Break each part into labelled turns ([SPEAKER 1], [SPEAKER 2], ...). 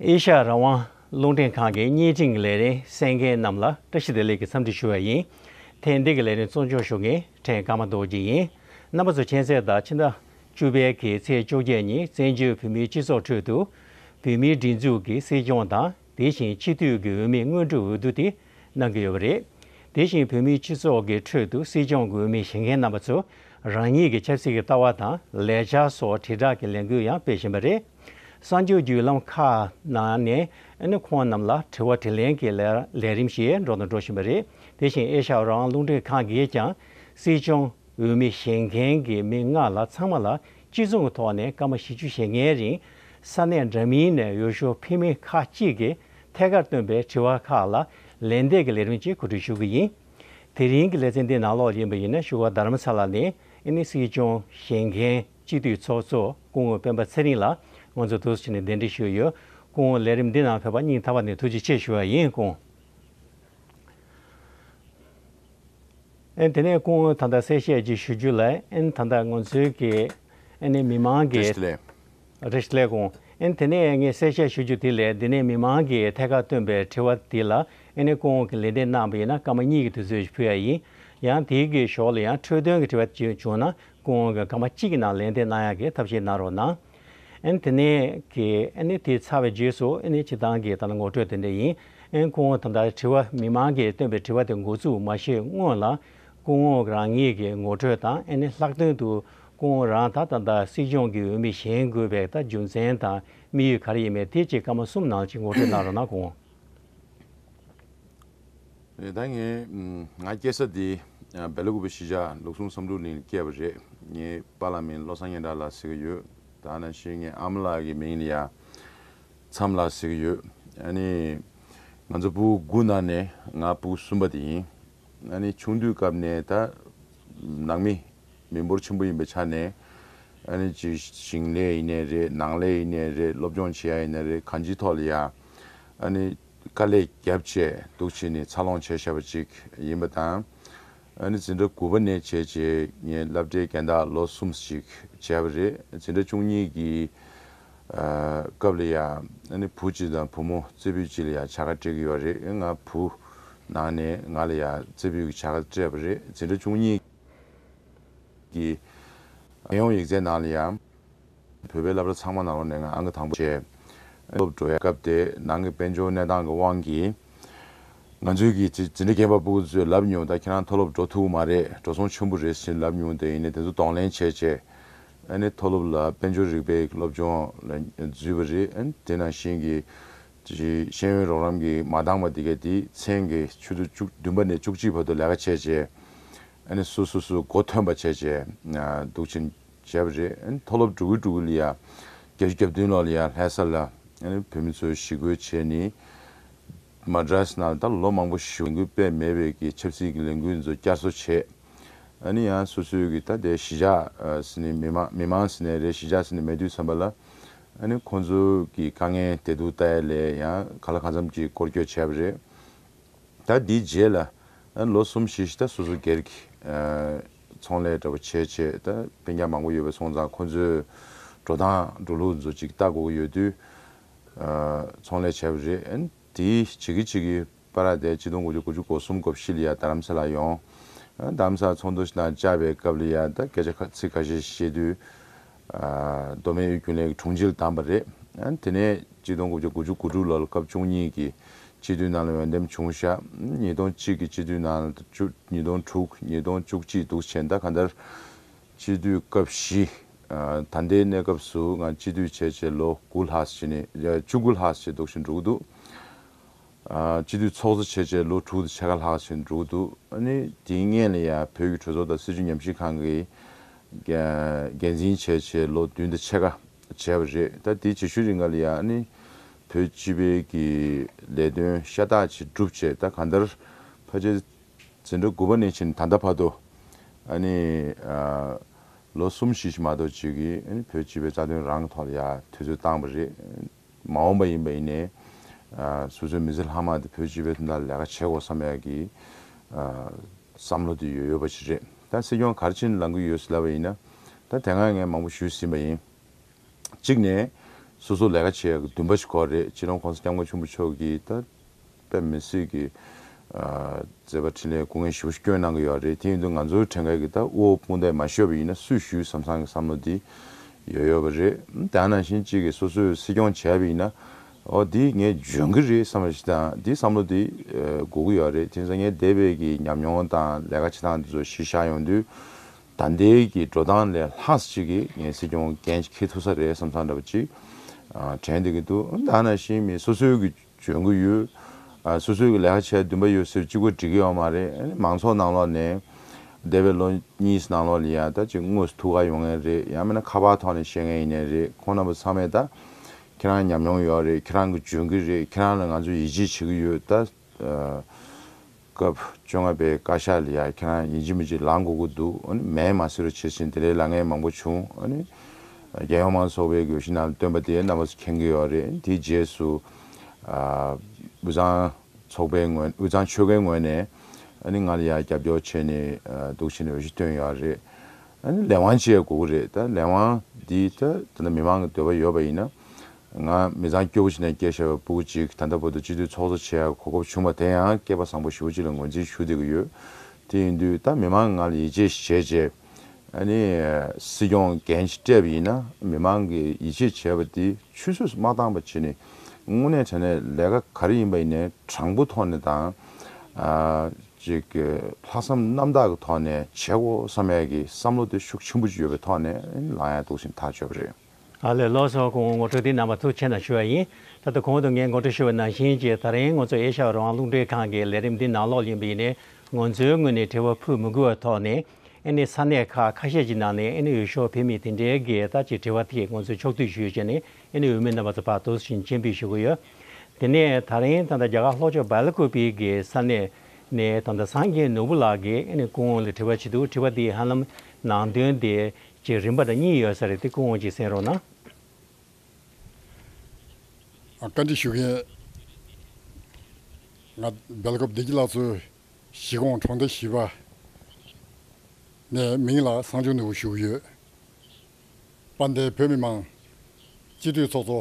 [SPEAKER 1] ཨེ་ཤ་ཡ་རང་དབང་རླུང་འཕྲིན་ཁང་གི་བརྙན་འཕྲིན་ལས་རིགས་གསན་མཁན་རྣམས་ལ་བཀྲ་ཤིས་བདེ་ལེགས་ཀྱི་འཚམས་འདྲི་ཞུ་བ་ཡིན། ཐེངས་འདི་གི་ལས་རིམ་གཙོ་མཆོག་ཞུ་མཁན་ཕྲན་ཀརྨ་རྡོ་རྗེ་ཡིན། རྣམ་པ་ཚོ་མཁྱེན་གསལ་ལྟར་ཕྱི་ཟླ་བཅུ་པའི་གི་ཚེས་བཅོ་བརྒྱད་ཉིན་བཙན་བྱོལ་བོད་མིའི་སྤྱི་ཚོགས་ཁྲོད་དུ། བོད་མིའི་སྒྲིག་འཛུགས་ཀྱི་སྲིད་སྐྱོང་དང་དེ་བཞིན་སྤྱི་འཐུས་ཀྱི་འོས་མི་དངོས་གྲུབ་འོས་བསྡུ་དེ་གནང་གི་ཡོད་པ་རེད། དེ་བཞིན་བོད་མིའི་སྤྱི་ཚོགས་ཀྱི་ཁྲོད་དུ་སྲིད་སྐྱོང་གི་འོས་མི་བྱེད་མཁན་རྣམ་པ་ཚོས་རང་ཉིད་ཀྱི་ཆབ་སྲིད་ཀྱི་ལྟ་བ་དང་ལས་འཆར་སོགས་དྲིལ་བསྒྲགས་ཀྱི་ལས་འགུལ་ཡང་སྤེལ་བཞིན་པ་རེད། གསར་འགྱུར་བརྒྱུད་ལམ་ཁག་ནང་ནས་ཁོང་རྣམས་ལ་དྲི་བ་དྲི་ལན་གྱི་ལས་རིམ་ཞིག་འགྲོ་དང་འགྲོ་བཞིན་པ་རེད། དེ་བཞིན་ཨེ་ཤ་རང་རླུང་འཕྲིན་ཁང་གིས་ཀྱང་སྲིད་སྐྱོང་འོས་མི་བྱེད་མཁན་གྱི་མི་ལྔ་ལ་ཚང་མ་ལ་གཅིག་མཚུངས་ཀྱི་ཐོག་ནས་སྐར་མ་བཞི་བཅུ་ཞེ་ལྔའི་རིང་ས་གནས་འདྲ་མིན་ནས་ཡུལ་ཤུལ་འཕེལ་མི་ཁག་གཅིག་གིས་ཐད་ཀར་བཏོན་པའི་དྲི་བ་ཁག་ལ་ལན་འདེབས་ཀྱི་ལས་རིམ་གཅིག་གོ་སྒྲིག་ཞུ་གི་ཡིན། དེ་རིང་གི་ལེ་ཚན་འདི་ནང་ལོགས་ཡིན་པ་ཡིན་ན་ཞུ་བ་དར་མ་ཚ་ལགས་ནས་ཨིན་ནི་སྲིད་སྐྱོང་བཞེངས་མཁན་སྤྱི་འཐུས་ཚོགས་གཙོ་སྐུ་ངོ་སྤེན་པ་ཚེ་རིང་ལ་ང་ཚོ་དུས་ཕྱིས་ནས་གདན་འདྲེན་ཞུས་ཡོད་སྐུ་ངོ་ལས་རིམ་འདི་ནང་ཕེབས་པ་སྙིང་ཐག་པ་ནས་ཐུགས་རྗེ་ཆེ་ཞུ་བ་ཡིན་སྐུ། དེ་ནས་སྐུ་ངོ་ད་ལྟ་གསལ་བཤད་ཅིག་ཞུ་རྒྱུ་ལ་ད་ལྟ་ང་ཚོའི་གི་ནས་མི་མང་གི། རེད་ལས། རེད་ལས་གོ། དེ་ནས་ངས་གསལ་བཤད་ཞུ་རྒྱུ་དེ་ལས་འདི་ནས་མི་མང་གི་ཐད་ཀར་བཏོན་པའི་དྲི་བ་དེ་ལ་ནས་སྐུ་ངོ་གི་ལན་འདེབས་གནང་བ་ཡིན་ན་སྐར་མ་གཉིས་ཀྱི་དུས་ཚོད་ཞིག་ཕུལ་ཡ་ཡིན། ཡང་དེའི་གི་ཞོར་ལ་ཡང་འཕྲོས་དོན་གི་དྲི་བ་བྱུང་ན་སྐུ་ངོ་གི་སྐར་མ་གཅིག་གི་ནང་ལན་འདེབས་གནང་ཡ་གི་ཐབས་ཤེས་གནང་རོགས་གནང། ཨན་དེ་ནས་ཀྱི་ཨན་ནི་དེ་ཚར་བའི་རྗེས་སུ་ཨན་ནི་སྤྱི་བཏང་གི་ད་ལྟ་ངོ་སྤྲོད་དེ་འདྲ་ཡིན་ཨན་སྐུ་ངོ་དམ་དྲ་དྲི་བ་མི་མང་གིས་བཏོན་པའི་དྲི་བ་དེ་འགོ་ཚུགས་མ་ཤེས་སྔོན་ལ་སྐུ་ངོ་རང་ཉིད་ཀྱི་ངོ་སྤྲོད་དང་ཨན་ནི་ལྷག་དོན་དུ་སྐུ་ངོ་རང་ད་ལྟ་ད་སྲིད་སྐྱོང་གི་འོས་མི་གཞན་དགོས་པའི་ད་རྒྱུ་མཚན་དང་དམིགས་ཡུལ་ག་རེ་ཡིན་མེད་དེ་གཅིག་སྐར་མ་གསུམ་ནང་གཅིག་ངོ་སྤྲོད་གནང་རོགས་གནང་སྐུ་ངོ།
[SPEAKER 2] ད་ངས་ང་སྐྱེས་ས་དེ་སྦེ་ལ་ཀུ་པའི་ཤིས་ཇཱ་ལུགས་ཟུང་བསམ་གྲུབ་གླིང་ལ་སྐྱེས་པ་རེད། ངའི་པ་ལགས་མིང་བློ་བཟང་སྙན་གྲགས་ལགས་ཟེར་གྱི་ཡོད། ད་ན་བཞིན་ངའི་ཨ་མ་ལགས་ཀྱི་མིང་ནི་ཡར་མཚམས་ལགས་ཟེར་གྱི་ཡོད། ཨ་ནི། ང་ཚོ་བུ་དགུ་ནང་ནས་ང་བུ་གསུམ་པ་དེ་ཡིན། ཨ་ནི་ཆུང་དུས་སྐབས་ནས་ད། ནང་མི། མི་འབོར་ཆེན་པོ་ཡིན་པའི་ཆ་ནས། ཨ་ནི་ཅི། ཞིང་ལས་ཡིན་ནས་རེད། ནང་ལས་ཡིན་ནས་རེད། སློབ་སྦྱོང་བྱེད་ཡ་ཡིན་ནས་རེད། གང་ཅིའི་ཐོག་ལ་ཡ། ཨ་ནི། དཀའ་ལས་རྒྱབ་ཆད་འདུག་ཅེས་ནི་འཚར་ལོངས་བྱས་བཞག་པ་ཅིག་ཡིན་པ་དང། ཨ་ནི་འཛིན་གྲྭ་དགུ་པ་ནས་བྱས་རྗེས་ངས་བསླབ་གྲྭའི་རྒན་བདག་ལོ་གསུམ་ཅིག་བྱས་པ་རེད། འཛིན་གྲྭ་བཅུ་གཉིས་ཀྱི། སྐབས་ལ་ཡ། ཨ་ནི་བུ་གཅིག་དང་བུ་མོ་རྩེ་ཕུད་གཅིག་ལ་ཡ་བྱ་དགའ་སྤྲད་ཀྱི་ཡོད་རེད། ང་བུ། ནང་ནས་ང་ལ་ཡ། རྩེ་ཕུད་ཀྱི་བྱ་དགའ་སྤྲད་པ་རེད། འཛིན་གྲྭ་བཅུ་གཉིས། གི། རྒྱལ་ཡོངས་ཡིག་རྩལ་ནང་ལ་ཡང། བོད་པའི་བསླབ་གྲྭ་ཚང་མ་ནང་ལོགས་ནས་ངང་གིས་དང་པོ་བྱས། སློབ་གྲོགས་ཡ། སྐབས་དེ་ནང་གི་དཔལ་འབྱོར་གནས་སྟངས་ཀྱི་དབང་གིས། ང་ཚོའི་གི་ཇི་འདྲའི་རྒན་པ་པོ་ཚོས་ལབ་མྱོང་ད་ཁྱེད་རང་མཐོ་སློབ་འགྲོ་ཐུབ་མ་རེད་འགྲོ་སོང་ཆུན་པོ་རེད་ཟེར་ལབ་མྱོང་དེ་ཡིན་ནས་དེ་ཚོ་གདོང་ལེན་བྱས་བྱས། ཨ་ནི་མཐོ་སློབ་ལ་དཔལ་འབྱོར་རིག་པའི་སློབ་སྦྱོང་ལ་འཛུལ་བ་རེད་དེ་ནང་བཞིན་གྱི། དེ་བཞིན་ཤེས་ཡོན་རོགས་རམ་གྱི་མ་འདང་བ་དེ་གའི་དེའི་མཚན་གྱི་ཆུ་ཚོད་བཅུ་བདུན་པ་ནས་བཅུ་གཅིག་བར་དུ་ལས་ཀ་བྱས་རྗེས། ཨནི་སུ་སུ་སུ་གོ་ཐོན་པ་བྱས་རྗེས་འདུག་ཆེན་བྱས་པ་རེད། ཨནི་མཐོ་སློབ་དྲུག་གུ་དྲུག་གུ་ལི་ཡ་བརྒྱད་ཅུ་གྱ་བདུན་ལོ་ལི་ཡ་ལྷས་ས་ལ་ཨནི་བོད་མི་ཚོའི་ཞི་རྒོལ་བྱས་ནི། Madras ནང་ད་ལོ་མང་པོ་ཞིག་ལས་འགུལ་སྤེལ་མེད་པའི་གི་ཆབ་སྲིད་གི་ལས་འགུལ་ཚོ་བསྐྱར་གསོ་བྱས། ཨནི་ཡང་སུ་སུ་གི་ད་དེ་གཞི་ཆགས་སི་ནི་མི་མང་མི་མང་སི་ནི་རེད་གཞི་ཆགས་སི་ནི་མེད་དུས་བསམ་པ་ལ། ཨ་ནི་ཁོང་ཚོ་གི་དཀའ་ངལ་དེ་དུག་ལྟ་ཡ་ལས་ཡང་ག་ལ་གང་འཚམ་གྱིས་བསྐོར་བསྐྱོད་བྱས་པ་རེད། ད་དེའི་རྗེས་ལ་ལོ་གསུམ་བཞི་བཞི་ད་སོ་སོ་སྒེར་གྱི་ཚོང་ལས་འདྲ་པོ་བྱས་བྱས་ད་དཔེ་ཉག་མང་པོ་ཡོད་པ་སོང་ཙང་ཁོང་ཚོས་འགྲོ་སྟངས་འགྲོ་ལུགས་མཛོ་ཅིག་ལྟ་དགོས་ཀྱི་ཡོད་དུས་ཚོང་ལས་བྱས་པ་རེད། དེ་བྱེད་ཀྱི་བྱེད་ཀྱི། པ་ར་དེ་གཅིག་སྟོང་དགུ་བཅུ་དགུ་བཅུ་གོ་གསུམ་གོ་བཞི་ལ་ཡ་རྡ་རམ་ས་ལ་ཡོང། རྡ་རམ་ས་ཚོགས་འདུ་དང་བཅར་བའི་སྐབས་ལ་ཡ་རྡ་སྐད་ཆ་ཁ་ཚིག་ཁ་ཤས་བཤད་དུས། མདོ་སྨད་ཨུའི་རྒྱུན་ལས་ཀྱི་དྲུང་ཆེ་ལ་བདམས་པ་རེད། དེ་ནས་གཅིག་སྟོང་དགུ་བརྒྱ་དགུ་བཅུ་དགུ་དྲུག་ལོ་ལ་སྐབས་བཅུ་གཉིས་ཀྱི་སྤྱི་འཐུས་རྣམས་ལ་འོས་འདེམས་བྱུང་ཞག་ཉིས་སྟོང་གཅིག་གི་སྤྱི་འཐུས་རྣམས་ལ་ཉིས་སྟོང་དྲུག་ཉིས་སྟོང་བཅུ་གཅིག་འདུག་བྱས་མཐའ་ག་འདར། དཔྱིད་དུས་སྐབས་བཞི། ད་ལྟའི་གནས་སྐབས་སུ་འང་དཔྱིད་དུས་བྱས་བྱས་ལོ་དགུ་ལྷག་བྱས་ནས་བཅུ་དགུ་ལྷག་བྱས་འདུག་བྱས་འགྲོ་གི་འདུག། དཔྱིད་དུས་ཚོགས་གཙོ་བྱས་བྱས་ལོ་དྲུག་དང་ཕྱེད་ཀ་ལྷག་བྱས་འགྲོ་གི་འདུག་ཨ་ནི་དེའི་སྔན་ལ་ཡང་བོད་ཀྱི་གྲོས་ཚོགས་དང་སྲིད་བྱུས་ཉམས་ཞིབ་ཁང་གི་འགན་འཛིན་བྱས་བྱས་ལོ་བདུན་དང་ཕྱེད་ཀ་བྱས་པ་རེད་ད་དེའི་བྱེད་ཤུལ་རིགས་འགའ་ལ་ཡང་ཨ་ནི་བོད་སྤྱི་པའི་ཀྱི་ལས་དོན་ཤ་སྟག་ཅིག་བསྒྲུབ་བྱས་ད་གང་ལྟར་ཕ་ཆེ་ཟེར་འགྲོ་དགུ་པ་ནས་ཕྱིན་ད་ལྟ་བར་དུ། ཨ་ནི། ལོ་གསུམ་བཞི་ཞིག་མ་གཏོགས་བྱེས་ཀྱི་བོད་སྤྱི་པའི་རྩ་དོན་རང་ཐོག་ལ་ཡ་ཐོས་ཚོད་བཏང་བ་རེད། མ་འོངས་པ་ཡིན་པ་ཡིན་ནས། སོ་སོའི་མི་ཚེ་ལྷག་མ་དེ་བོད་སྤྱི་པའི་དོན་དག་ལ་ལས་ཀ་བྱེད་དགོས་བསམ་ཡག་གི། བསམ་བློ་དེ་ཡོད་ཡོད་པ་ཞིག་རེད། ད་སྲིད་སྐྱོང་གར་ཕྱིན་ལང་གི་ཡོད་ཟེར་བ་ཡིན་ན། ད་དེ་སྔ་ངས་མང་པོ་ཞུས་ཟིན་པ་ཡིན། གཅིག་ནས། སོ་སོ་ལས་ཀ་བྱེད་ཡག་གི་འདུན་པ་ཞིག་ཁོ་རེད་ཕྱི་རོང་ཁོང་ས་སྐྱབས་མགོན་ཆུང་བུ་མཆོག་གིས་ད། པའི་མི་སེར་གྱི་མཛད་པ་འཕྲིན་ལས་སྐུ་ངལ་ཞེ་བོ་ཞིག་སྐྱོན་གནང་གི་ཡོད་རེད་དེ་ཡིན་དུས་ང་ཚོའི་བྲན་གཡག་གི་ད་དབུ་བོ་སྤུན་ཟླས་མ་ཤོད་པ་ཡིན་ན་སུས་ཞུས་བསམ་བསམ་གི་བསམ་བློ་དེ་ཡོད་ཡོད་པ་རེད་དེ་ཨ་ནང་བཞིན་གཅིག་གིས་སོ་སོས་སྲིད་སྐྱོང་བྱས་པ་ཡིན་ན་འོ་དེ་ངས་འཇོན་གི་རེད་བསམ་པ་ཞིག་དང་དེ་བསམ་བློ་དེ་དགོས་ཀྱི་ཡོད་རེད་དེ་ནི་ས་ངན་དེ་བས་ཀྱི་ཉམས་མྱོང་དང་ལས་ཀ་བྱེད་སྟངས་དེ་ཚོ་གཞིར་བཞག་ཡོང་དུས་ད་ལྟའི་གི་འགྲོ་སྟངས་ལས་ལྷག་ཅིག་གི་ངས་སྲིད་སྐྱོང་འགན་ཞིག་འཁེལ་ཐུབ་ས་རེད་བསམ་བསམ་འདྲ་པོ་ཅིག་དྲན་འདི་གི་འདུག་ཨ་ནང་བཞིན་མི་སོ་སོའི་གི། བྱོན་གྱི་ཡོད། སོ་སོའི་གི་ལས་ཀ་བྱས་འདུན་པ་ཡོད་ཟེར་གཅིག་པོ་འགྲིག་གི་ཡོད་མ་རེད་ཨ་ནི་མང་ཚོགས་ནང་ལོགས་ནས། འདས་པའི་ལོ་གཉིས་ནང་ལོགས་ལ་ཡང་ད་ཅིག་དངོས་སུ་ཐུག་ག་ཡོང་ངེས་རེད་ཡང་མིན་ན་ཁ་པར་ཐོག་ནས་བཤད་མཁན་ཡིན་ནའི་རེད་ཁོང་རྣམ་པ་ཚང་མས་ད། ཁྱེད་རང་ཉམས་མྱོང་ཡོད་རེད་ཁྱེད་རང་གི་འཇོན་གི་རེད་ཁྱེད་རང་ལ་ང་ཚོ་ཡིད་ཆེས་བྱེད་གི་ཡོད་ད། སྐབས་བཅོ་ལྔ་པའི་བཀའ་ཤག་ལ་ཡང་ཁྱེད་རང་ཡིན་གཅིག་མིན་གཅིག་ལངས་དགོས་ཀྱི་འདུག་ཨོ་ནི་མས་མ་སེར་རོ་བྱེད་བཞིན་དེ་ལས་ལ་ངས་མང་པོ་བྱུང་ཨོ་ནི། རྒྱལ་ཡོངས་མང་ཚོགས་པའི་དགོས་གཞི་རྣམས་བཏོན་པ་དེ་རྣམ་པ་སུ་མཁྱེན་གྱི་ཡོད་རེད་དེའི་རྗེས་སུ། དབུས་གཙང་ཚོགས་པའི་ངོས་དབུས་གཙང་ཆོལ་ཁའི་ངོས་ནས་ཨོ་ནི་ང་ལ་ཡང་རྒྱབ་སྐྱོར་བྱས་ནས་འདུག་བྱས་ནས་འོས་གཞི་བཏོན་ཡོད་རེད་ཨོ་ནི་ལས་དབང་བཅས་དགོས་ཀྱི་རེད་ད་ལས་དབང་འདི་ད་ད་ལྟ་མི་མང་གི་འདོད་པ་ཡོད་པ་ཡིན་ན་ང་མི་ཚང་སྐྱོ་བོ་ཅིག་ནས་སྐྱེས་ཞེས་པའི་སྤུ་གུ་ཅིག་ད་ལྟ་བོད་དུ་སྤྱི་འཐུས་ཚོགས་གཙོ་བྱེད་གོ་སྐབས་བྱུང་བ་དེ་ཡང་སྐྱེས་པ་བཟང་པོ་ཞུ་བོ་ཅིག་ལ་ངོས་འཛིན་ཞུ་བདེ་གི་ཡོད། དེ་ཡིན་དུས་ད་མི་མང་ང་ལ་ཡིད་ཆེས་བྱེད་ཅེས། ཨ་ནི། སྲིད་སྐྱོང་འགན་སྤྲད་པ་ཡིན་ན་མི་མང་གིས་ཡིད་ཆེས་བྱེད་པ་དེ་ཆུད་ཟོས་སུ་མ་བཏང་བར་བྱེད་ནི། དངོས་གནས་དྲན་ནས་ལས་ཀ་ག་རེ་ཡིན་པ་ཡིན་ནས་དྲང་པོ་ཐོག་ནས་དང། ཅིག། ལྷག་བསམ་རྣམ་དག་གི་ཐོག་ནས་བྱེད་དགོ་བསམ་ཡས་ཀྱི་བསམ་བློ་དེ་ཤུགས་ཆེན་པོ་ཅིག་ཡོད་པའི་ཐོག་ནས་ལངས་ཡས་འདུག་ཟིན་ཐག་ཆོད་པ་རེད། ཨ་ལེ་ལོ་སོགས་
[SPEAKER 1] ཀུན་ངོ་སྤྲོད་དེ་རྣམ་པ་ཐུགས་ཆེ་ན་ཞུ་བ་ཡིན། ད་ལྟ་གོང་དུ་ངས་ངོ་སྤྲོད་ཞུ་བའི་ནང་བཞིན་གྱི་ད་རིང་ང་ཚོ་ཨེ་ཤ་ཡའི་རང་དབང་རླུང་འཕྲིན་ཁང་གི་ལས་རིམ་འདི་ནང་ལོགས་ཡིན་པ་ཡིན་ནས་ང་ཚོའི་ངོས་ནས་དྲི་བ་ཕུལ་མི་དགོས་བའི་ཐོག་ནས་ཨེ་ནི་ས་གནས་ཁག་ཁ་ཤས་ཀྱི་ནང་ནས་ཨེ་ནི་འོས་ཤོག་འཕེན་མི་དེ་འདྲའི་འགལ་ཟླ་ཅིག་དྲི་བ་དེ་ང་ཚོས་ཕྱོགས་བསྡུས་ཞུས་བྱས་ནས་ཨེ་ནི་འོས་མི་རྣམ་པ་ཚོ་བར་དོ་ཞིང་མཆན་འབུལ་ཞུ་གི་ཡོད། དེ་ནས་ད་རིང་ད་ལྟ་རྒྱ་གར་ལྷོ་ཕྱོགས་བལ་ལ་ཁུ་པི་གི་ས་གནས་ནས་ད་ལྟ་སངས་རྒྱས་ནོར་བུ་ལགས་ཀྱིས་ཨེ་ནི་ཀུན་ལ་དྲི་བ་བྱེད་འདུག་དྲི་བ་དེ་ཧ་ལམ་ནང་དོན་དེ་ཅེས་རིམ་པ་དང་གཉིས་ཡོད་ས་རེད་དེ་ཀུན་འོང་གཅིག་གསན་རོགས་གནང།
[SPEAKER 3] བཀའ་འདྲི་ཞུ་མཁན། ང་སྦེལ་ཀོབ་བདེ་སྐྱིད་ལགས་ཚོའི་གཞིས་གོང་གྲོང་སྡེ་བཞི་པ་ནས་མིང་ལ་བསང་ཆུ་ནོར་བུ་ཞུ་གི་ཡོད། དཔའ་མཐའི་བོད་མི་མང་སྤྱི་འཐུས་ཚོགས་གཙོ་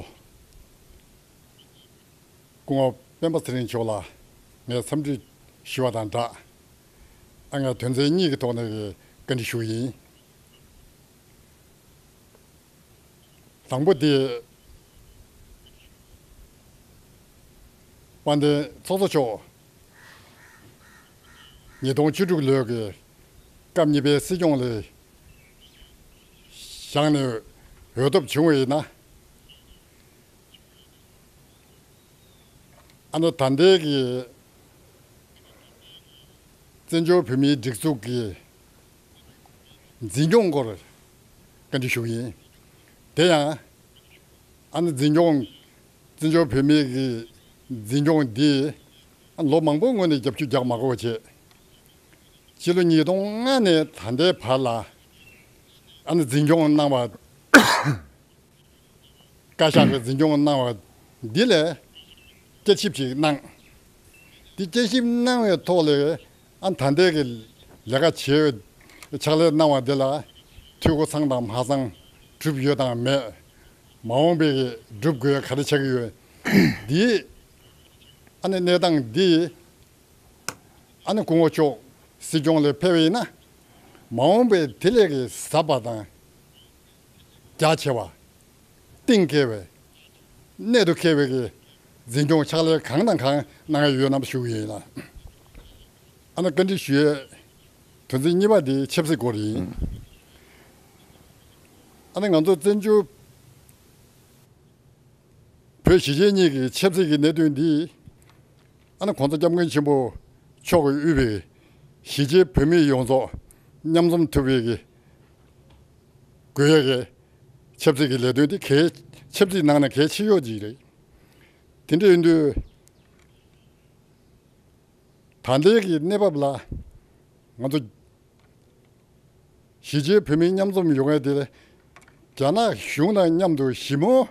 [SPEAKER 3] སྐུ་ངོ་སྤེན་པ་ཚེ་རིང་མཆོག་ལ་ངས་འཚམས་འདྲི་ཞུ་བ་དང་སྦྲགས། ང་དོན་ཚན་གཉིས་ཀྱི་ཐོག་ནས་བཀའ་འདྲི་ཞུ་གི་ཡིན། དང་པོ་དེ། དཔལ་ལྡན་ཚོགས་གཙོ་མཆོག་ཉིས་སྟོང་བཅུ་དྲུག་ལོའི་སྐབས་གཉིས་པའི་སྲིད་སྐྱོང་ལས་བཞག་ནས་འོས་ཐོབ་བྱུང་བས་ན། ཨ་མདོ་དར་མདེལ་གྱི་བཙན་བྱོལ་བོད་མིའི་སྒྲིག་འཛུགས་ཀྱི་འཛིན་སྐྱོང་སྐོར་བཀའ་འདྲི་ཞུ་གི་ཡིན། དེ་ཡང། ཨ་ནེ་འཛིན་སྐྱོང། བཙན་བྱོལ་བོད་མིའི་གི་འཛིན་སྐྱོང་འདིས། ལོ་མང་པོའི་སྔོན་ནས་རྒྱབ་ཆུ་རྒྱག་མ་གོ་བ་བྱས། སྤྱི་ལོ་ཉིས་སྟོང་ལྔ་ནས་ད་ལྟའི་བར་ལ། ཨ་ནེ་འཛིན་སྐྱོང་གནང་བ། བཀའ་ཤག་གི་འཛིན་སྐྱོང་གནང་བ་འདི་ལས། དཔྱད་ཞིབ་ཞིག་གནང། འདི་དཔྱད་ཞིབ་གནང་བའི་ཐོག་ལས་ཨ་མཐའ་འདས་ཀྱི་ལས་ཀ་བྱེད་འོས། ཕྱག་ལས་གནང་བ་འདི་ལ་འཐུས་སྒོ་ཚང་དང་མ་ཚང། གྲུབ་ཡོད་དང་མེད། མ་འོངས་པའི་སྒྲུབ་དགོས་ག་རེ་ཆགས་ཀྱི་ཡོད། འདིའི་ཨ་ནི་གནས་སྟངས་འདི་ཡིན། ཨ་ནི་སྐུ་ངོ་མཆོག་སྲིད་སྐྱོང་ལས་ཕེབས་པ་ཡིན་ན། མ་འོངས་པའི་དེ་ལས་ཀྱི་ཟབ་པ་དང། རྒྱ་ཆེ་བ། གཏིང་སྐྱེ་བའི། གནད་དུ་ཁེལ་བའི། འཛིན་སྐྱོང་ཕྱག་ལས་གང་དང་གང་གནང་ཡས་ཡོད་རྣམས་ཞུ་ཡིན། ཨ་ན་བཀའ་འདྲི་ཞུ་ཡས། དོན་ཚན་གཉིས་པ་འདི་ཆབ་སྲིད་སྐོར་ཡིན། ཨ་ན་ང་ཚོ་བཙན་བྱོལ། བོད་གཞིས་བྱེས་གཉིས་ཀྱི་ཆབ་སྲིད་ཀྱི་གནད་དོན་འདི། ཨ་ན་གོང་ས་སྐྱབས་མགོན་ཆེན་པོ་མཆོག་གིས་དབུས་པའི། གཞིས་བྱེས་བོད་མི་ཡོངས་རྫོགས་མཉམ་འཛོམས་ཐུབ་པའི། དགོས་ཡག་རེད། ཆབ་སྲིད་ཀྱི་ལས་དོན་དེ་གལ་ཆབ་སྲིད་ནང་ན་གལ་ཆེ་ཤོས་ཅིག་རེད། དེ་འདྲའི་དུས་ད་ལྟའི་གི་གནས་བབ་ལ་ང་ཚོ་གཞིས་བྱེས་བོད་མི་མཉམ་འཛོམས་ཡོང་ཡ་དེ་རྒྱ་ནག་གཞུང་དང་མཉམ་དུ་ཞི་མོལ་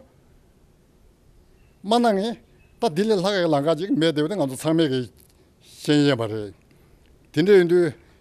[SPEAKER 3] མ་གནང་ངེད་ད་དེ་ལས་ལྷག་གི་ལང་ཀ་ཅིག་མེད་དེ་བས་ང་ཚོ་ཚང་མས་གི་ཤེས་ཡན་པ་རེད། དེ་འདྲའི་དུས་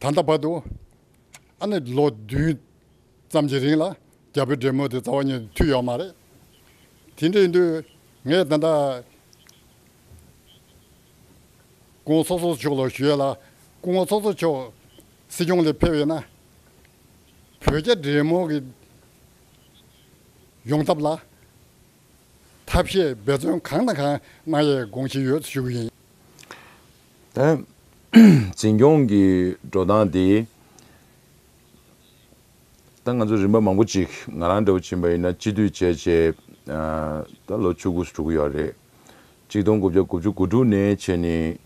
[SPEAKER 3] ད་ལྟ་བར་དུ་ཨ་ནི་ལོ་བདུན་ཙམ་གྱི་རིང་ལ་རྒྱ་བོད་འབྲེལ་མོལ་དེ་རྩ་བ་ཉིད་དུ་མཐུད་ཡོད་མ་རེད། དེ་འདྲའི་དུས་ངས་ད་ལྟ ྋགོང་ས་ཚོགས་མཆོག་ལ་ཞུས་ཡོད་ལ ྋགོང་ས་ཚོགས་མཆོག་སྲིད་སྐྱོང་ལས་ཕེབས་ཡོད་ན་བོད་རྒྱ་འབྲེལ་མོལ་གྱི་ཡོང་ཐབས་ལ་ཐབས་ཤེས་འབད་བརྩོན་གང་དང་གང་གནང་ཡས་དགོངས་བཞེས་ཡོད་ཞུ་གི་ཡིན།
[SPEAKER 2] འཛིན་སྐྱོང་གི་འགྲོ་སྟངས་དེ། ད་ང་ཚོ་རིམ་པ་མང་པོ་ཅིག་ང་རང་འདྲ་བོ་ཕྱིན་པ་ཡིན་ན་སྤྱི་འཐུས་བྱས་བྱས་ད་ལོ་ཆུ་དགུ་སོ་དྲུག་གི་ཡོད་རེད། གཅིག་སྟོང་དགུ་བརྒྱ་དགུ་བཅུ་དགུ་དྲུག་ནས་ཕྱིན་ནས་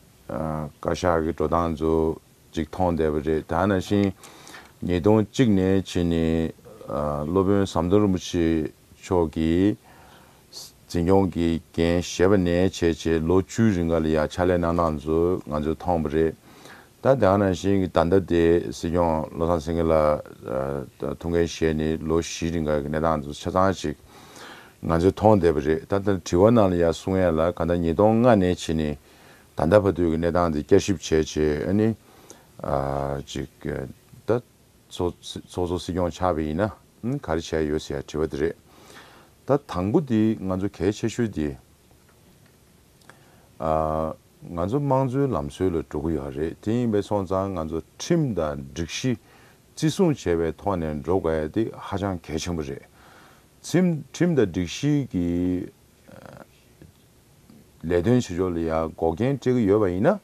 [SPEAKER 2] བཀའ་ཤག་གི་འགྲོ་སྟངས་ཚོ་ཅིག་མཐོང་བསྡད་པ་རེད་ད་ནང་བཞིན་ཉིས་སྟོང་གཅིག་ནས་ཕྱིན་ནས་སློབ་དཔོན་ཟམ་གདོང་རིན་པོ་ཆེ་མཆོག་གིས། འཛིན་སྐྱོང་གི་འགན་བཞེས་པ་ནས་བྱས་རྗེས་ལོ་བཅུའི་རིང་ག་ལ་ཡ་ཕྱག་ལས་གནང་སྟངས་ཚོ་ང་ཚོས་མཐོང་བ་རེད། ད་དེའང་ནང་བཞིན་གྱི་ད་ལྟ་དེ་སྲིད་སྐྱོང་བློ་བཟང་སེང་གེ་ལགས་ཐུགས་འགན་བཞེས་ནས་ལོ་བཞིའི་རིང་ག་གི་གནས་སྟངས་ཚོ་ཆ་ཚང་ཞིག་ང་ཚོས་མཐོང་བསྡད་པ་རེད། ད་ལྟ་དྲི་བ་གནང་ལ་ཡ་གསུང་ཡ་ལ་ག་ད་ཉིས་སྟོང་ལྔ་ནས་ཕྱི་ནས་ད་ལྟ་བར་དུ་གི་གནས་སྟངས་དེ་བསྐྱར་ཞིབ་བྱས་རྗེས་ཨ་ནི། ཅིག་ད། ཚོགས་གཙོ་སྲིད་སྐྱོང་ཆགས་པ་ཡིན་ན་ག་རེ་བྱས་ཡོད་ཟེར་ཡ་དྲི་བ་དེ་རེད། ད་དང་པོ་དེ་ང་ཚོ་གལ་ཆེ་ཤོས་དེ། ང་ཚོ་དམངས་གཙོའི་ལམ་སྲོལ་ལ་འགྲོ་གི་ཡོད་རེད་དེ་ཡིན་པས་སོང་ཙང་ང་ཚོ་ཁྲིམས་དང་སྒྲིག་གཞི་བརྩི་སྲུང་བྱས་པའི་ཐོག་ནས་འགྲོ་དགོས་ཡ་དེ་ཧ་ཅང་གལ་ཆེན་པོ་རེད། ཁྲིམས་དང་སྒྲིག་གཞི་གི་ལས་དོན་བྱེད་ཕྱོགས་ལ་ཡང་འགོག་རྐྱེན་སྤྲད་ཀྱི་ཡོད་པ་ཡིན་ན་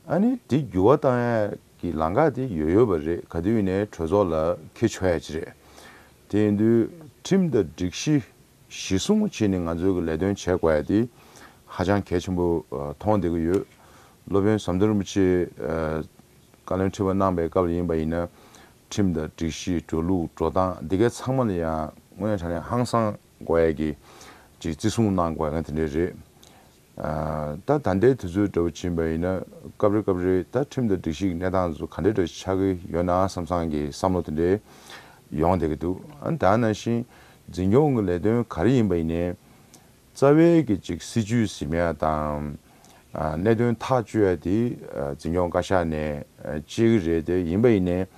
[SPEAKER 2] ཨ་ནི་དེ་འགྱུར་བ་གཏང་ཡ་གི་ལང་ཀ་དེ་ཡོད་ཡོད་པ་རེད་ག་དུས་ནས་གྲོས་ཚོགས་ལ་ཁེ་ཆོ་ཡ་ཅི་རེད། དེ་ཡིན་དུས་ཁྲིམས་དང་སྒྲིག་གཞི་གཞི་བཟུང་བྱེད་ནི་ང་ཚོས་གི་ལས་དོན་བྱེད་དགོས་ཡ་དེ་ཧ་ཅང་གལ་ཆེན་པོ་མཐོང་བདེ་གི་ཡོད། སློབ་དཔོན་ཟམ་གདོང་རིན་པོ་ཆེས་བཀའ་བློན་ཁྲི་པ་གནང་པའི་སྐབས་ལ་ཡིན་པ་ཡིན་ན་ཁྲིམས་དང་སྒྲིག་གཞི་འགྲོ་ལུགས་འགྲོ་སྟངས་འདི་གའི་ཚང་མ་ལ་ཡང་སྔོན་དྲ་ནས་ཧང་སང་དགོས་ཡ་གི་ཅིག་བརྩི་སྲུང་གནང་དགོས་ཡ་གི་དེ་འདྲའི་རེད། ད་ད་ལྟའི་དུས་ཚོད་འདྲ་བོ་ཕྱིན་པ་ཡིན་ན་སྐབས་རེ་སྐབས་རེ་ད་ཁྲིམས་དང་སྒྲིག་གཞིའི་གནས་སྟངས་སུ་ག་འདྲ་འདྲ་ཆགས་ཀྱི་ཡོད་ན་བསམ་བསམ་གྱི་བསམ་བློ་དེ་འདྲའི་ཡོང་བསྡད་ཀྱི་འདུག་ཨ་ད་ནང་བཞིན་འཛིན་སྐྱོང་གི་ལས་དོན་ག་རེ་ཡིན་པ་ཡིན་ནའི། རྩ་བའི་གི་ཅིག་སྲིད་ཇུས་ཟིན་མེད་ཡ་དང། གནད་དོན་ཐག་གཅོད་ཡ་དེ་འཛིན་སྐྱོང་བཀའ་ཤག་ནས་གཅེས་ཀྱི་རེད་དེ་ཡིན་པ་ཡིན་ནའི།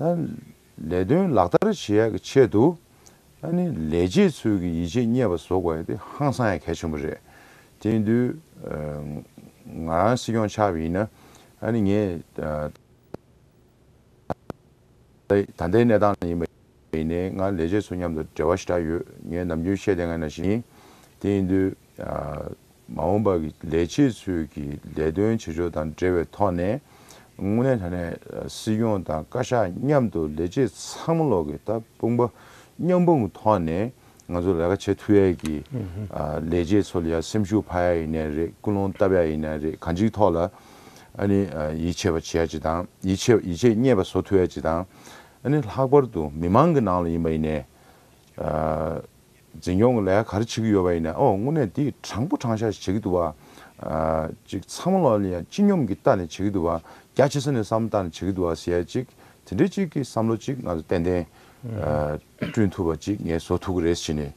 [SPEAKER 2] ད། ལས་དོན་ལག་བསྟར་བྱེད་ཡག་གི་ཆེད་དུ། ལས་བྱེད་ཚོའི་གི་ཡིད་ཆེས་རྙེད་པ་བཟོ་དགོས་དེ་ཧང་སང་ཡང་གལ་ཆེན་པོ་རེད། དེ་འདུལ། ང་རང་སྲིད་སྐྱོང་ཆགས་པ་ཡིན་ན། ངས། ད་ལྟའི་གནས་སྟངས་ལ་ཡིན་པ་ཡིན་ནའི་ང་ལས་བྱེད་ཚོ་མཉམ་དུ་འབྲེལ་བ་ཞི་དྲག་ཡོད་ངས་ནམ་རྒྱུན་བཤད་དེ་ང་ན་བཞིན། དེ་འདུལ། མ་འོངས་པར་ལས་བྱེད་ཚོས་ཀྱི་ལས་དོན་བྱེད་ཕྱོགས་དང་འབྲེལ་བའི་ཐོག་ནས། དངོས་གནས་ཐ་ན་སྲིད་སྐྱོང་དང་བཀའ་ཤག་མཉམ་དུ་ལས་བྱེད་ཚང་མ་ལོག་གི་ད་དཔུང་པ་མཉམ་སྤུངས་ཐོག་ནས་ང་ཚོ་ལས་ཀ་བྱེད་ཐུ་ཡ་ཀྱི། ལས་བྱེད་ཚོ་ལ་ཡང་སེམས་ཤུགས་འཕར་ཡ་ཡི་ནས་རེད་ཀུན་སློང་བཏབ་ཡ་ཡི་ནས་རེད་གང་ཅིའི་ཐོག་ལ་ཨ་ནི་ཡིད་ཆེས་པ་བྱེད་ཡ་ཅི་དང་ཡིད་ཆེས་ཡིད་ཆེས་རྙེད་པ་བཟོ་ཐུ་ཡ་ཅི་དང་ཨ་ནི་ལྷག་པར་དུ་མི་མང་གི་ནང་ལ་ཡིན་པ་ཡི་ནས། འཛིན་སྐྱོང་གི་ལས་ག་རེ་བྱེད་ཀྱི་ཡོད་པ་ཡིན་ན་ཨོ་དངོས་གནས་འདི་དྲང་པོ་དྲང་བཞག་ཞིག་བྱེད་ཀྱི་འདུག་བ། ཅིག་ཚ་མོ་ལ་ལ་ཡང་སྤྱི་སྙོམས་ཀྱི་ལྟ་ནས་བྱེད་ཀྱི་འདུག་བ། རྒྱ་ཆེ་ས་ནས་བསམ་བཏང་ནས་བྱེད་ཀྱི་འདུག་བ་ཟེར་ཡ་ཅིག་དེ་འདྲའི་ཅིག་གི་བསམ་བློ་ཅིག་ང་ཚོ་ཏན་ཏན། བསྐྲུན་ཐུབ་པ་ཅིག་ངས་བཟོ་ཐུབ་ཀྱི་རེད་བྱས་ནས་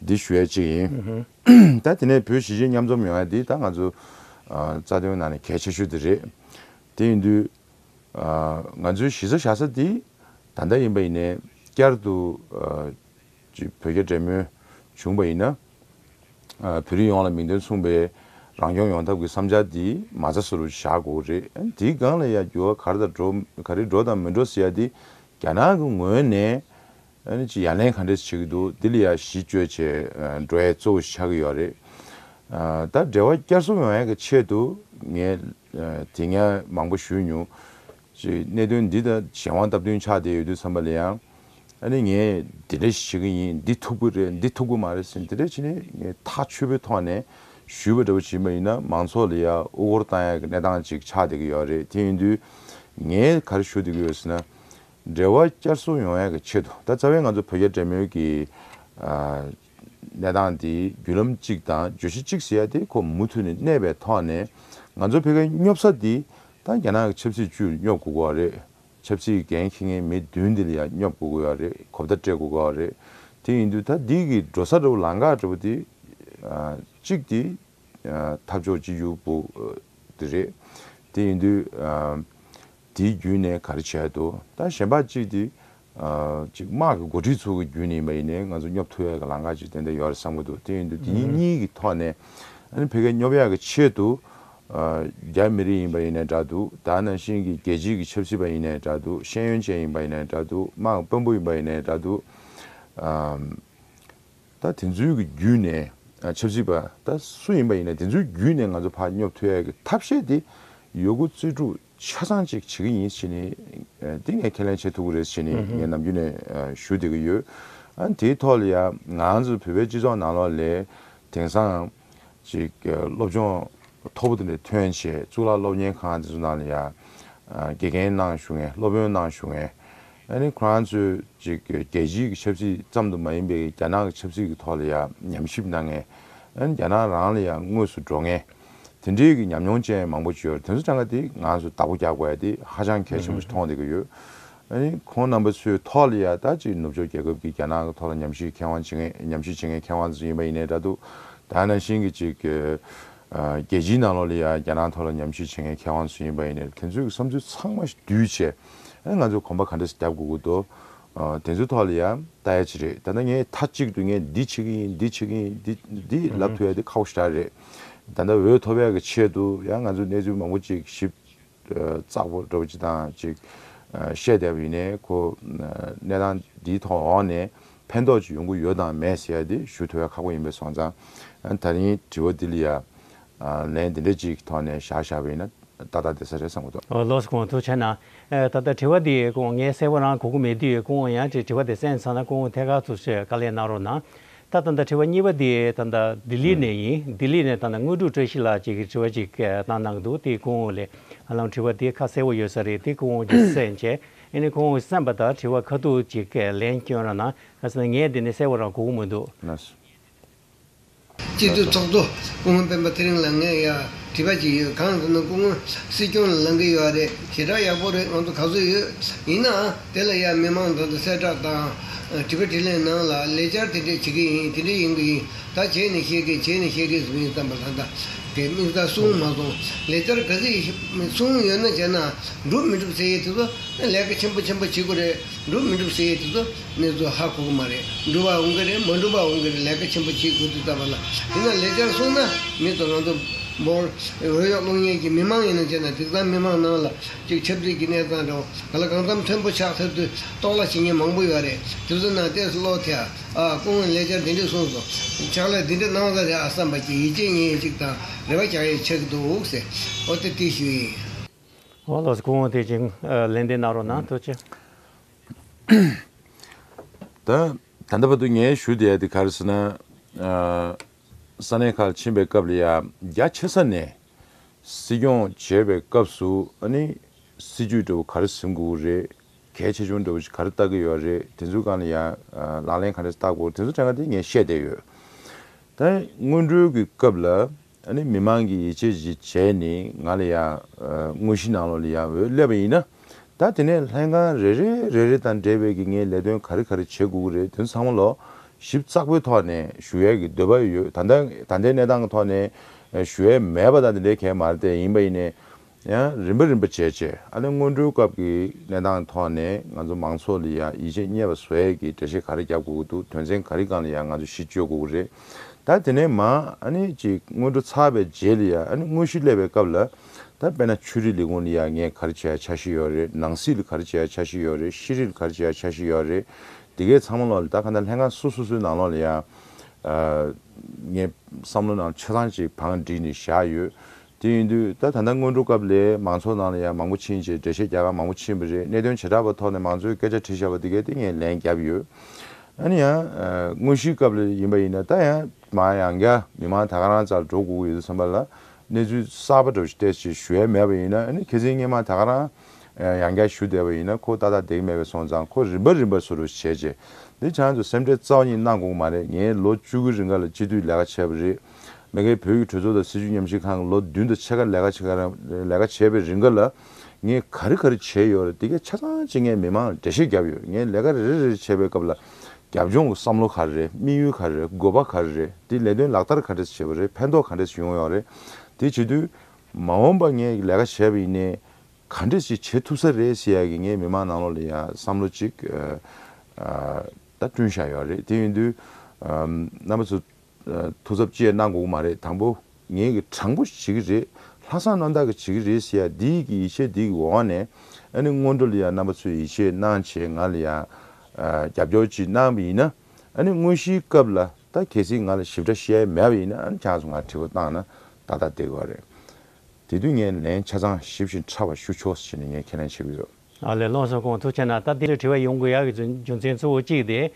[SPEAKER 2] འདི་ཞུ་ཡ་ཅིག་ཡིན། ད་དེ་ནས་བོད་གཞིས་བྱེས་མཉམ་འཛོམས་ཡོང་ཡ་འདི་ད་ང་ཚོ་རྩ་དོན་ནང་ནས་གལ་ཆེ་ཤོས་དེ་རེད། དེ་ཡིན་དུས། ང་ཚོའི་གཞིས་ས་བཞག་ས་འདི་ད་ལྟ་ཡིན་པ་ཡིན་ནས་བསྐྱར་དུ། ཅིག་བོད་རྒྱ་འབྲེལ་མོལ་བྱུང་བ་ཡིན་ན། བོད་རིགས་ཡོངས་ལ་མིང་དོན་མཚུངས་པའི་རང་སྐྱོང་ཡོང་ཐབས་ཀྱི་བསམ་འཆར་འདི་མ་རྩ་བཟོ་རུ་བཞག་དགོས་ཀྱི་རེད། དེའི་སྒང་ལ་ཡང་འགྱུར་བ་ག་རེ་འགྲོ་དང་མི་འགྲོ་ཟེར་ཡ་དེ་རྒྱ་ནག་གི་ངོས་ནས་ཀྱི་ཡ་ལན་ག་འདྲས་བྱེད་ཀྱི་འདུག་དེ་ལ་ཡང་གཞི་བཅོལ་བྱས་འགྲོ་ཡ་གཙོ་བོ་ཆགས་ཀྱི་ཡོད་རེད། ད་འབྲེལ་བ་བསྐྱར་གསུམ་ཡོང་ཡ་གི་ཆེད་དུ་ངས། དེ་སྔ་མང་པོ་ཞུས་མྱོང། གནད་དོན་འདི་དང་གཞན་དབང་སྟབས་བསྟུན་ཆགས་བསྡད་ཡོད་དུས་འཚམས་པ་ལས་ཡང། ཨ་ནི་ངས་དེ་འདྲ་ཞིག་བྱེད་ཀྱི་ཡིན་འདི་ཐུག་པོ་རེད་འདི་ཐུག་པོ་མ་རེད་ཟེར་ནས་དེ་འདྲ་བྱེད་ནས་ངས་ཐག་ཆོད་པོའི་ཐོག་ནས་ཞུས་པ་འདྲ་པོ་བྱིན་པ་ཡིན་ན་མང་ཚོགས་ལ་ཡང་དབུ་སྐོར་བཏང་ཡག་གི་གནས་སྟངས་ཅིག་ཆགས་བསྡད་ཀྱི་ཡོད་རེད་དེ་ཡིན་དུས། ངས་གར་ཞུ་བསྡད་ཀྱི་ཡོད་ཟེར་ན། འབྲེལ་བ་བསྐྱར་གསོ་ཡོང་ཡག་གི་ཆེད་དུ་ད་རྩ་བའི་ང་ཚོ་བོད་རྒྱ་འབྲེལ་མོལ་གྱི། གནས་སྟངས་དེ་བརྒྱུད་ལམ་གཅིག་དང་བརྗོད་གཞི་གཅིག་ཟེར་ཡ་དེ་ཁོ་མུ་མཐུད་ནས་གནས་པའི་ཐོག་ནས་ང་ཚོ་ཕེ་ཁེ་སྙོབ་ས་འདི་ད་རྒྱ་ནག་གི་ཆབ་སྲིད་ཅུས་སྙོབ་དགོས་གོ་རེད་ཆབ་སྲིད་ཀྱི་འགན་ཁྱི་ངན་མི་བདུན་འདི་ལ་ཡང་སྙོབ་དགོས་གོ་ཡ་རེད་གོ་བརྡ་སྤྲད་དགོས་གོ་རེད་དེ་ཡིན་དུས་ད་འདི་གི་འགྲོ་ས་འདྲ་བོ་ལང་ཀ་འདྲ་བོ་དེ་གཅིག་དེ། འཐབ་ཕྱོགས་གཅིག་གྱུར་པུ། དེ་རེད། དེ་ཡིན་དུས། དེའི་བརྒྱུད་ནས་ག་རེ་བྱས་འདུག་ད་གཞན་པ་གཅིག་དེ། གཅིག་དམག་གི་འགོ་ཁྲིད་ཚོ་གི་བརྒྱུད་ནས་ཡིན་པ་ཡིན་ནའི་ང་ཚོ་སྙོབ་ཐུབ་ཡ་གི་ལང་ཀ་གཅིག་ཏན་ཏན་ཡོད་རེད་བསམ་གྱི་འདུག་དེ་ཡིན་དུས་དེ་གཉིས་གྱི་ཐོག་ནས། ཨ་ནི་ཕལ་སྐད་སྙོབ་ཡ་གི་ཆེད་དུ། རྒྱ་མི་རིགས་ཡིན་པ་ཡིན་ནའི་འདྲ་འདུག་ད་ནང་བཞིན་གྱི་རྒྱལ་སྤྱིས་ཀྱི་ཆབ་སྲིད་པ་ཡིན་ནའི་འདྲ་འདུག་ཤེས་ཡོན་ཅན་ཡིན་པ་ཡིན་ནའི་འདྲ་འདུག་དམག་གི་དཔོན་པོ་ཡིན་པ་ཡིན་ནའི་འདྲ་འདུག། ད་དེ་ཚོའི་གི་བརྒྱུད་ནས་ཆབ་སྲིད་པ་ད་སུ་ཡིན་པ་ཡིན་ན་དེ་ཚོའི་བརྒྱུད་ནས་ང་ཚོ་ཕ་སྙོབ་ཐུབ་ཡག་གི་ཐབས་ཤེས་དེ་ཡོད་དགུ་རྩིས་སྤྲུག་ཆ་ཚང་ཅིག་བྱེད་གི་ཡིན་ཕྱིན་ནི་དེ་ངས་ཁས་ལེན་བྱེད་ཐུབ་གི་རེད་ཕྱིན་ནི་ངས་ནམ་རྒྱུན་ནས་ཞུ་བསྡད་གི་ཡོད། ཨ་དེའི་ཐོག་ལ་ཡང་ང་ཚོ་བོད་པའི་སྤྱི་ཚོགས་ནང་ལོགས་ལས་དེང་སང་ཅིག་སློབ་སྦྱོང་མཐོ་པོ་དེ་འདྲ་ཐོན་ཆེད་གཙུག་ལག་སློབ་གཉེར་ཁང་དེ་ཚོ་ནང་ལ་ཡང་དགེ་རྒན་གནང་ཞུ་ངེས་སློབ་དཔོན་གནང་ཞུ་ངེས་ཨ་རིའི་ཁོ་རང་ཚོས་ཅིག་རྒྱལ་སྤྱིའི་གི་ཆབ་སྲིད་ཙམ་དུ་མ་ཡིན་པའི་རྒྱ་ནག་གི་ཆབ་སྲིད་ཀྱི་ཐོག་ལ་ཡང་ཉམས་ཞིབ་གནང་ངེས། ཨན་རྒྱ་ནག་རང་ལ་ཡང་དངོས་སུ་འགྲོ་ངེས། དེ་འབྲེལ་གྱི་ཉམས་མྱོང་ཅན་མང་པོ་བརྗོད་རོགས་དེ་ཚོ་གྲངས་ཀ་དེ་ང་ཚོས་བདག་པོ་རྒྱག་དགོས་ཡ་དེ་ཧ་ཅང་གལ་ཆེན་པོ་ཞིག་མཐོང་བསྡད་ཀྱི་ཡོད། ཨ་རིའི་ཁོང་རྣམ་པ་ཚོའི་ཐོག་ལ་ཡང་ད་ཅིག་ནུབ་ཕྱོགས་རྒྱལ་ཁབ་ཀྱི་རྒྱ་ནག་གི་ཐོག་ལ་ཉམས་ཞིབ་མཁས་དབང་བྱེད་ངེས་ཉམས་ཞིབ་བྱེད་མཁན་མཁས་དབང་དེ་ཚོ་ཡིན་པ་ཡིན་ནའི་འདྲ་འདུག་ད་ནང་བཞིན་གྱི་ཅིག་རྒྱལ་སྤྱིའི་ནང་ལོགས་ལ་ཡང་རྒྱ་ནག་ཐོག་ལ་ཉམས་ཞིབ་བྱེད་མཁན་མཁས་དབང་དེ་ཚོ་ཡིན་པ་ཡིན་ནའི་དེ་ཚོའི་གི་བསམ་ཚུལ་ཚང་མ་ཞིག་བསྡུས་རྗེས། ང་ཚོས་གོམ་པ་ག་འདྲ་ཞིག་རྒྱབ་དགོས་ཀི་འདུག་དེ་ཚོའི་ཐོག་ལ་ཡང་བལྟ་ཡ་བྱེད་རེད་ད་ལྟ་ངས་མཐའ་གཅིག་ཏུ་ངས་འདི་བྱེད་ཀི་ཡིན་འདི་བྱེད་ཀི་ཡིན་འདི་འདི་ལབ་ཐུབ་ཡ་འདི་ཁག་པོ་ཞེ་དྲག་རེད་ད་ལྟ་འོས་ཐོབ་ཡ་གི་ཆེད་དུ་ཡང་ང་ཚོས་གནས་ཚུལ་མང་པོ་ཅིག་ཞིབ་ཚགས་པོ་འགྲོ་པ་ཅིག་དང་ཅིག་བཤད་བསྡད་པ་ཡིན་ནའི་ཁོ་གནས་སྟངས་འདིའི་ཐོག་འོག་ནས་ཕན་ཐོག་ཅིག་ཡོང་གི་ཡོད་དང་མེད་ཟེར་ཡ་དེ་ཞུ་ཐུབ་ཡ་ཁག་པོ་ཡིན་པས་སོང་ཙང་ད་རིང་དྲི་བ་འདི་ལ་ཡ་ལན། དེ་འདྲའི་ཅིག་གི་ཐོག་ནས་བཞག་བཞག་པ་ཡིན་ན་ཏག་ཏག་བདེ་ས་རེད་བསམ་གོ་ཐོག། ལོགས་སུ་གོང་དུ་
[SPEAKER 1] བྱས་ན། ད་ལྟ་དྲི་བ་འདི་སྐུ་ངོ་ངས་གསལ་བོ་རང་གོ་གི་མེད་དུས་སྐུ་ངོ་ཡང་དྲི་བ་དེ་གསན་ཚར་ན་སྐུ་ངོ་ཐད་ཀར་དུ་ཆོས་དཀའ་ལས་གནང་རོགས་གནང། ད་ད་ལྟ་དྲི་བ་གཉིས་པ་འདི་ད་ལྟ་ལྡི་ལི་ནས་ཡིན་ལྡི་ལི་ནས་ད་ལྟ་དངོས་གྲུབ་བཀྲ་ཤིས་ལགས་ཅིག་གིས་དྲི་བ་ཅིག་བཏང་གནང་གི་འདུག་དེ་སྐུ་ངོ་ལས་ཧ་ལམ་དྲི་བ་དེ་ཁ་གསལ་བོ་ཡོད་ས་རེད་དེ་སྐུ་ངོ་གིས་གསན་བྱས་ཨེ་ནས་སྐུ་ངོ་གིས་གསན་པ་དང་དྲི་བ་ཁ་ཐུག་ཅིག་ལན་བསྐྱོན་ར་གནང་ག་ས་ནས་ངས་འདི་ནས་གསལ་བོ་རང་གོ་གི་མི་འདུག།
[SPEAKER 4] སྤྱི་འཐུས་ཚོགས་གཙོ་སྐུ་ངོ་སྤེན་པ་ཚེ་རིང་ལགས་ངས་ཡང་དྲིས་པ་ཞིག་ཡོད་གངས་ཟིན་ན་སྐུ་ངོས་སྲིད་སྐྱོང་ལ་ལང་གི་ཡོད་རེད་ཞེ་དྲག་ཡག་པོ་རེད་ང་ཚོ་ག་ཚོད་ཡོད་ཡིན་ནའང་དེ་ལ་ཡང་མི་མང་ཚང་དུ་གསལ་བསྒྲགས་དང། དྲི་བ་དྲིས་ལན་གནང་ལ་ལས་འཆར་དེ་འདྲས་བྱེད་ཀྱི་ཡིན་དེ་འདྲས་ཡིན་གྱི་ཡིན་ད་བྱས་ནས་བཤད་ཀྱི་བྱས་ནས་བཤད་ཀྱི་ཟིན་བསམ་པ་ལ་ད་དེ་དམིགས་བསལ་གསུང་མ་སོང་ལས་འཆར་ག་ཚོད་གསུང་ཡོད་ན་བྱས་ནའང་འགྲུབ་མི་འགྲུབ་ཟེར་ཡས་དེ་ཚོ་ལས་ཀ་ཆེན་པོ་ཆེན་པོ་བྱེད་དགོས་རེད་འགྲུབ་མི་འགྲུབ་ཟེར་ཡས་དེ་ཚོ། ནེ་ཙོ་ཧ་གོ་གི་མ་རེད་འགྲུབ་པ་འོང་གི་རེད་མ་འགྲུབ་པ་འོང་གི་རེད་ལས་ཀ་ཆེན་པོ་བྱེད་དགོས་ཚུལ་ལྟ་བ་ལ་དེ་ན་ལེགས་ཆ་གསུངས་ན་མི་དོ་ང་དོ། འབོར་འོས་ཡོག་རླུང་གཉེར་གྱི་མི་མང་ཡིན་ན་བྱས་ན་དེ་གཙང་མི་མང་ནང་ལ་གཅིག་ཆབ་སྲིད་ཀྱི་གནས་སྟངས་དྲ་བ་ལ་གང་འཚམ་མཐོན་པོ་ཆགས་ཚར་དུས་རྟོག་སླ་བྱེད་མཁན་མང་པོ་ཡོད་རེད་དེ་ཚོ་ནང་བལྟས་སུ་བློ་ཐེ་ཨ་ཨ་སྐུ་ངོས་ལེགས་ཆ་འདི་འདྲི་གསུངས་སོང་ཕྱག་ལས་འདི་འདྲི་གནང་བ་ས་རེད་ཨ་བསམ་པ་གྱི་ཡིད་ཆེས་ཉིན་ཡེ་གཅིག་དང་རེ་བ་བྱ་ཡེ་ཆགས་ཀྱི་འདུག་འོ་སེ་ཨོ་ཏེ་ཏི་ཞུ་ཡིན། ཨོ་ལོ་
[SPEAKER 1] སྐུ་ངོ་དེ་བཞིན་ལན་འདི་གནང་རོགས་གནང་ཐུགས་ཆེ།
[SPEAKER 2] ད་ལྟ་བར་དུ་ངས་ཞུ་བསྡད་དེ་གར་ཟེར་ན། ས་གནས་ཁག་ཕྱིན་པའི་སྐབས་ལ་ཡ་རྒྱ་ཆེ་ས་ནས་སྲིད་སྐྱོང་བྱེད་པའི་སྐབས་སུ་ཨ་ནི་སྲིད་ཇུས་འདྲ་བོ་ག་རེ་ཟིན་དགོས་ཀྱི་རེད། གལ་ཆེ་ཆུང་འདྲ་བོ་ཞིག་ག་རེ་བཏགས་ཀྱི་ཡོད་རེད་དེ་ཚོའི་སྒང་ལ་ཡ་ལག་ལེན་ག་རེ་བཏགས་དགོས་དེ་ཚོ་ཆ་ཚང་དེ་ངས་བཤད་བསྡད་ཡོད། ད་དངུལ་འབྲུལ་གྱི་སྐབས་ལ། ཨ་ནི་མི་མང་གི་ཡིད་ཆེས་གཞི་བྱས་ནས་ང་ལ་ཡང་དངོས་གཞི་ནང་ལོགས་ལ་ཡང་འོས་སླེབས་པ་ཡིན་ན། ད་དེ་ནས་ལྷན་ཁང་རེ་རེ་རེ་རེ་དང་འབྲེལ་བའི་གི་ངའི་ལས་དོན་ག་རེ་ག་རེ་བྱེད་དགོས་ཀི་རེད་དོན་ཚང་མ་ལོགས་ཞིབ་ཙག་པོའི་ཐོག་ནས་ཞུ་ཡས་གི་འདོད་པ་ཡོད་ད་ལྟ་ད་ལྟའི་གནས་སྟངས་གི་ཐོག་ནས་ཞུ་ཡས་མེད་པ་དང་དེ་འདྲའི་གས་མ་རེད་ཡིན་པ་ཡིན་ནས་ཡང་རིམ་པ་རིམ་པ་བྱས་རྗེས་ཨ་ལན་སྔོན་འགྲོའི་སྐབས་ཀྱི་གནས་སྟངས་ཐོག་ནས་ང་ཚོ་མང་ཚོགས་ལ་ཡང་ཡིད་ཆེས་རྙེད་པ་བཟོ་ཡས་ཀྱི་འགྲེལ་བཤད་ག་རེ་རྒྱབ་དགོས་ཀྱི་འདུག་དོན་ཚན་ག་རེ་གང་ལ་ཡང་ང་ཚོ་གཞི་བཅོལ་དགོས་ཀྱི་རེད་ད་དེ་ནས་མ་ཨ་ནི་ཅིག་སྔོན་འགྲོ་ཚར་བའི་རྗེས་ལ་ཡང་ཨ་ནི་དངོས་གཞི་སླེབས་པའི་སྐབས་ལ་ད་དཔེ་ན་ཆོས་རིག་ལས་ཁུངས་ལ་ཡང་ངས་ག་རེ་བྱས་ཡ་ཆ་ཤི་ཡོད་རེད་ནང་སྲིད་ལ་ག་རེ་བྱས་ཡ་ཆ་ཤི་ཡོད་རེད་ཤེས་རིག་ལ་ག་རེ་བྱས་ཡ་ཆ་ཤི་ཡོད་རེད་དེ་གས་ཚང་མ་ལོག་ལ་ད་ག་འདྲ་ལྷན་ཁང་སོ་སོ་སོའི་ནང་ལོག་ལ་ཡང་ངས་བསམ་བློ་ནང་ཆ་ཚང་ཅིག་བང་བསྒྲིགས་ནས་བཞག་ཡོད་དེ་ཡིན་དུས་ད་ད་ལྟ་སྔོན་འགྲོ་སྐབས་ལས་མང་ཚོགས་ནང་ལ་ཡང་མང་པོ་ཕྱིན་ཅེས་འགྲེལ་བཤད་རྒྱག་ག་མང་པོ་ཕྱིན་པ་རེད་གནད་དོན་བྱེ་བྲག་པ་ཐོག་ནས་མང་ཚོས་སྐད་ཆ་དྲི་བཞག་པ་འདི་གའི་སྟེང་ངས་ལན་བརྒྱབ་ཡོད། ཡིན་ན་ཡང། དངོས་གཞིའི་སྐབས་ལ་ཡིན་པ་ཡིན་ན་ད་ཡང་མ་ཡང་བསྐྱར་མི་མང་ད་ག་རང་རྩར་འགྲོ་དགོས་ཀྱི་ཡོད་བསམ་པ་ལ་གནས་ཚུལ་གསར་པ་འགྲོ་བཞིན་བལྟས་ཞེས་ཞུ་ཡ་མེད་པ་ཡིན་ན་ནི་ཁྱེད་ཚེ་སྙེ་མང་ད་ག་རང་ཡང་བསྐྱར་ཞུ་བསྡད་པ་ཡིན་ན་ཁོ་ཏག་ཏག་འདེགས་མེད་པའི་སོང་ཙང་ཁོ་རིམ་པ་རིམ་པ་སུ་རུ་བྱས་རྗེས་འདི་བྱང་དུ་སེམས་ཁྲལ་རྩ་བ་ཉིད་གནང་དགོས་ཀྱི་མ་རེད་ངས་ལོ་བཅུ་དགུའི་རིང་ག་ལ་སྤྱི་འཐུས་ལས་ཀ་བྱས་པ་རེད། མེ་སྐད་བོད་ཡིག་གྲོས་ཚོགས་དང་སྲིད་བྱུས་ཉམས་ཞིབ་ཁང་ལོ་བདུན་དང་ཕྱེད་ཀ་ལས་ཀ་ལས་ཀ་བྱས་པའི་རིང་ག་ལ་ངས་ག་རེ་ག་རེ་བྱས་ཡོད་རེད་དེ་གས་ཆ་ཚང་ཅིག་ངས་མི་མང་ལ་འགྲེལ་བཤད་བརྒྱབ་ཡོད་ངས་ལས་ཀ་རེ་རེ་རེ་རེ་བྱས་པའི་སྐབས་ལ་རྒྱབ་ལྗོངས་ཀྱི་བསམ་བློ་ག་རེ་རེད་དམིགས་ཡུལ་ག་རེ་རེད་དགོས་པ་ག་རེ་རེད་དེ་ལས་དོན་ལག་བསྟར་ག་འདྲས་བྱས་པ་རེད་ཕན་ཐོགས་ག་འདྲས་ཡོང་ཡོད་རེད་དེ་བྱེད་དུས་མ་འོངས་པ་ངས་ལས་ཀ་བྱས་པ་ཡིན་ནའི་ག་འདྲས་ཞིག་བྱེད་ཐུབ་ས་རེད་ཞེས་ཡ་གི་ངས་མི་མང་ནང་ལོགས་ལ་ཡང་བསམ་བློ་ཅིག་ད་བསྐྲུན་བཞག་ཡོད་རེད་དེ་ཡིན་དུས་རྣམ་པ་ཚོས་ཐུགས་ཚབ་ཅེས་གནང་དགོས་ཀྱི་མ་རེད་དང་པོ་ངེད་ཀྱི་དྲང་པོ་བྱེད་ཀྱི་རེད་ལྷག་བསམ་རྣམ་དག་གིས་བྱེད་ཀྱི་རེད་ཟེར་ཡ་འདི་ཡི་ཡི་ཆད་འདི་ཡི་འོག་ནས་ཨ་ནི་སྔོན་འགྲོ་ལ་ཡང་རྣམ་པ་ཚོས་ཡི་ཆད་གནང་བྱས་ང་ལ་ཡང་རྒྱབ་སྐྱོར་གྱིས་གནང་བ་ཡིན་ན་ཨ་ནི་དངོས་གཞིའི་སྐབས་ལ་ད་གལ་སྲིད་ང་ལ་ཞིབ་ཕྲ་བཤད་ཡ་མེད་པ་ཡིན་ན་ཨ་ནི་ཆང་སོ་ང་དྲི་བ་བཏང་ན་ཏག་ཏག་བསྡད་དགོས་པ་རེད་དེ་དུས་ངས་ལན་ཆ་ཚང་ཞིབ་ཞིང་ཕྲ་བ་ཞུ་ཆོག་ཟེར་ནས་ངས་ཁས་ལེན་བྱེད་ཀྱི་ཡོད། ལ་ལས་ལོགས་སུ་
[SPEAKER 1] ཁོང་ཐུགས་ཆེ་ན་ད་དེ་འདྲའི་དྲི་བ་ཡོང་དགོས་ཡག་གི་རྒྱུ་མཚན་གཙོ་བོ་གཅིག་དེ།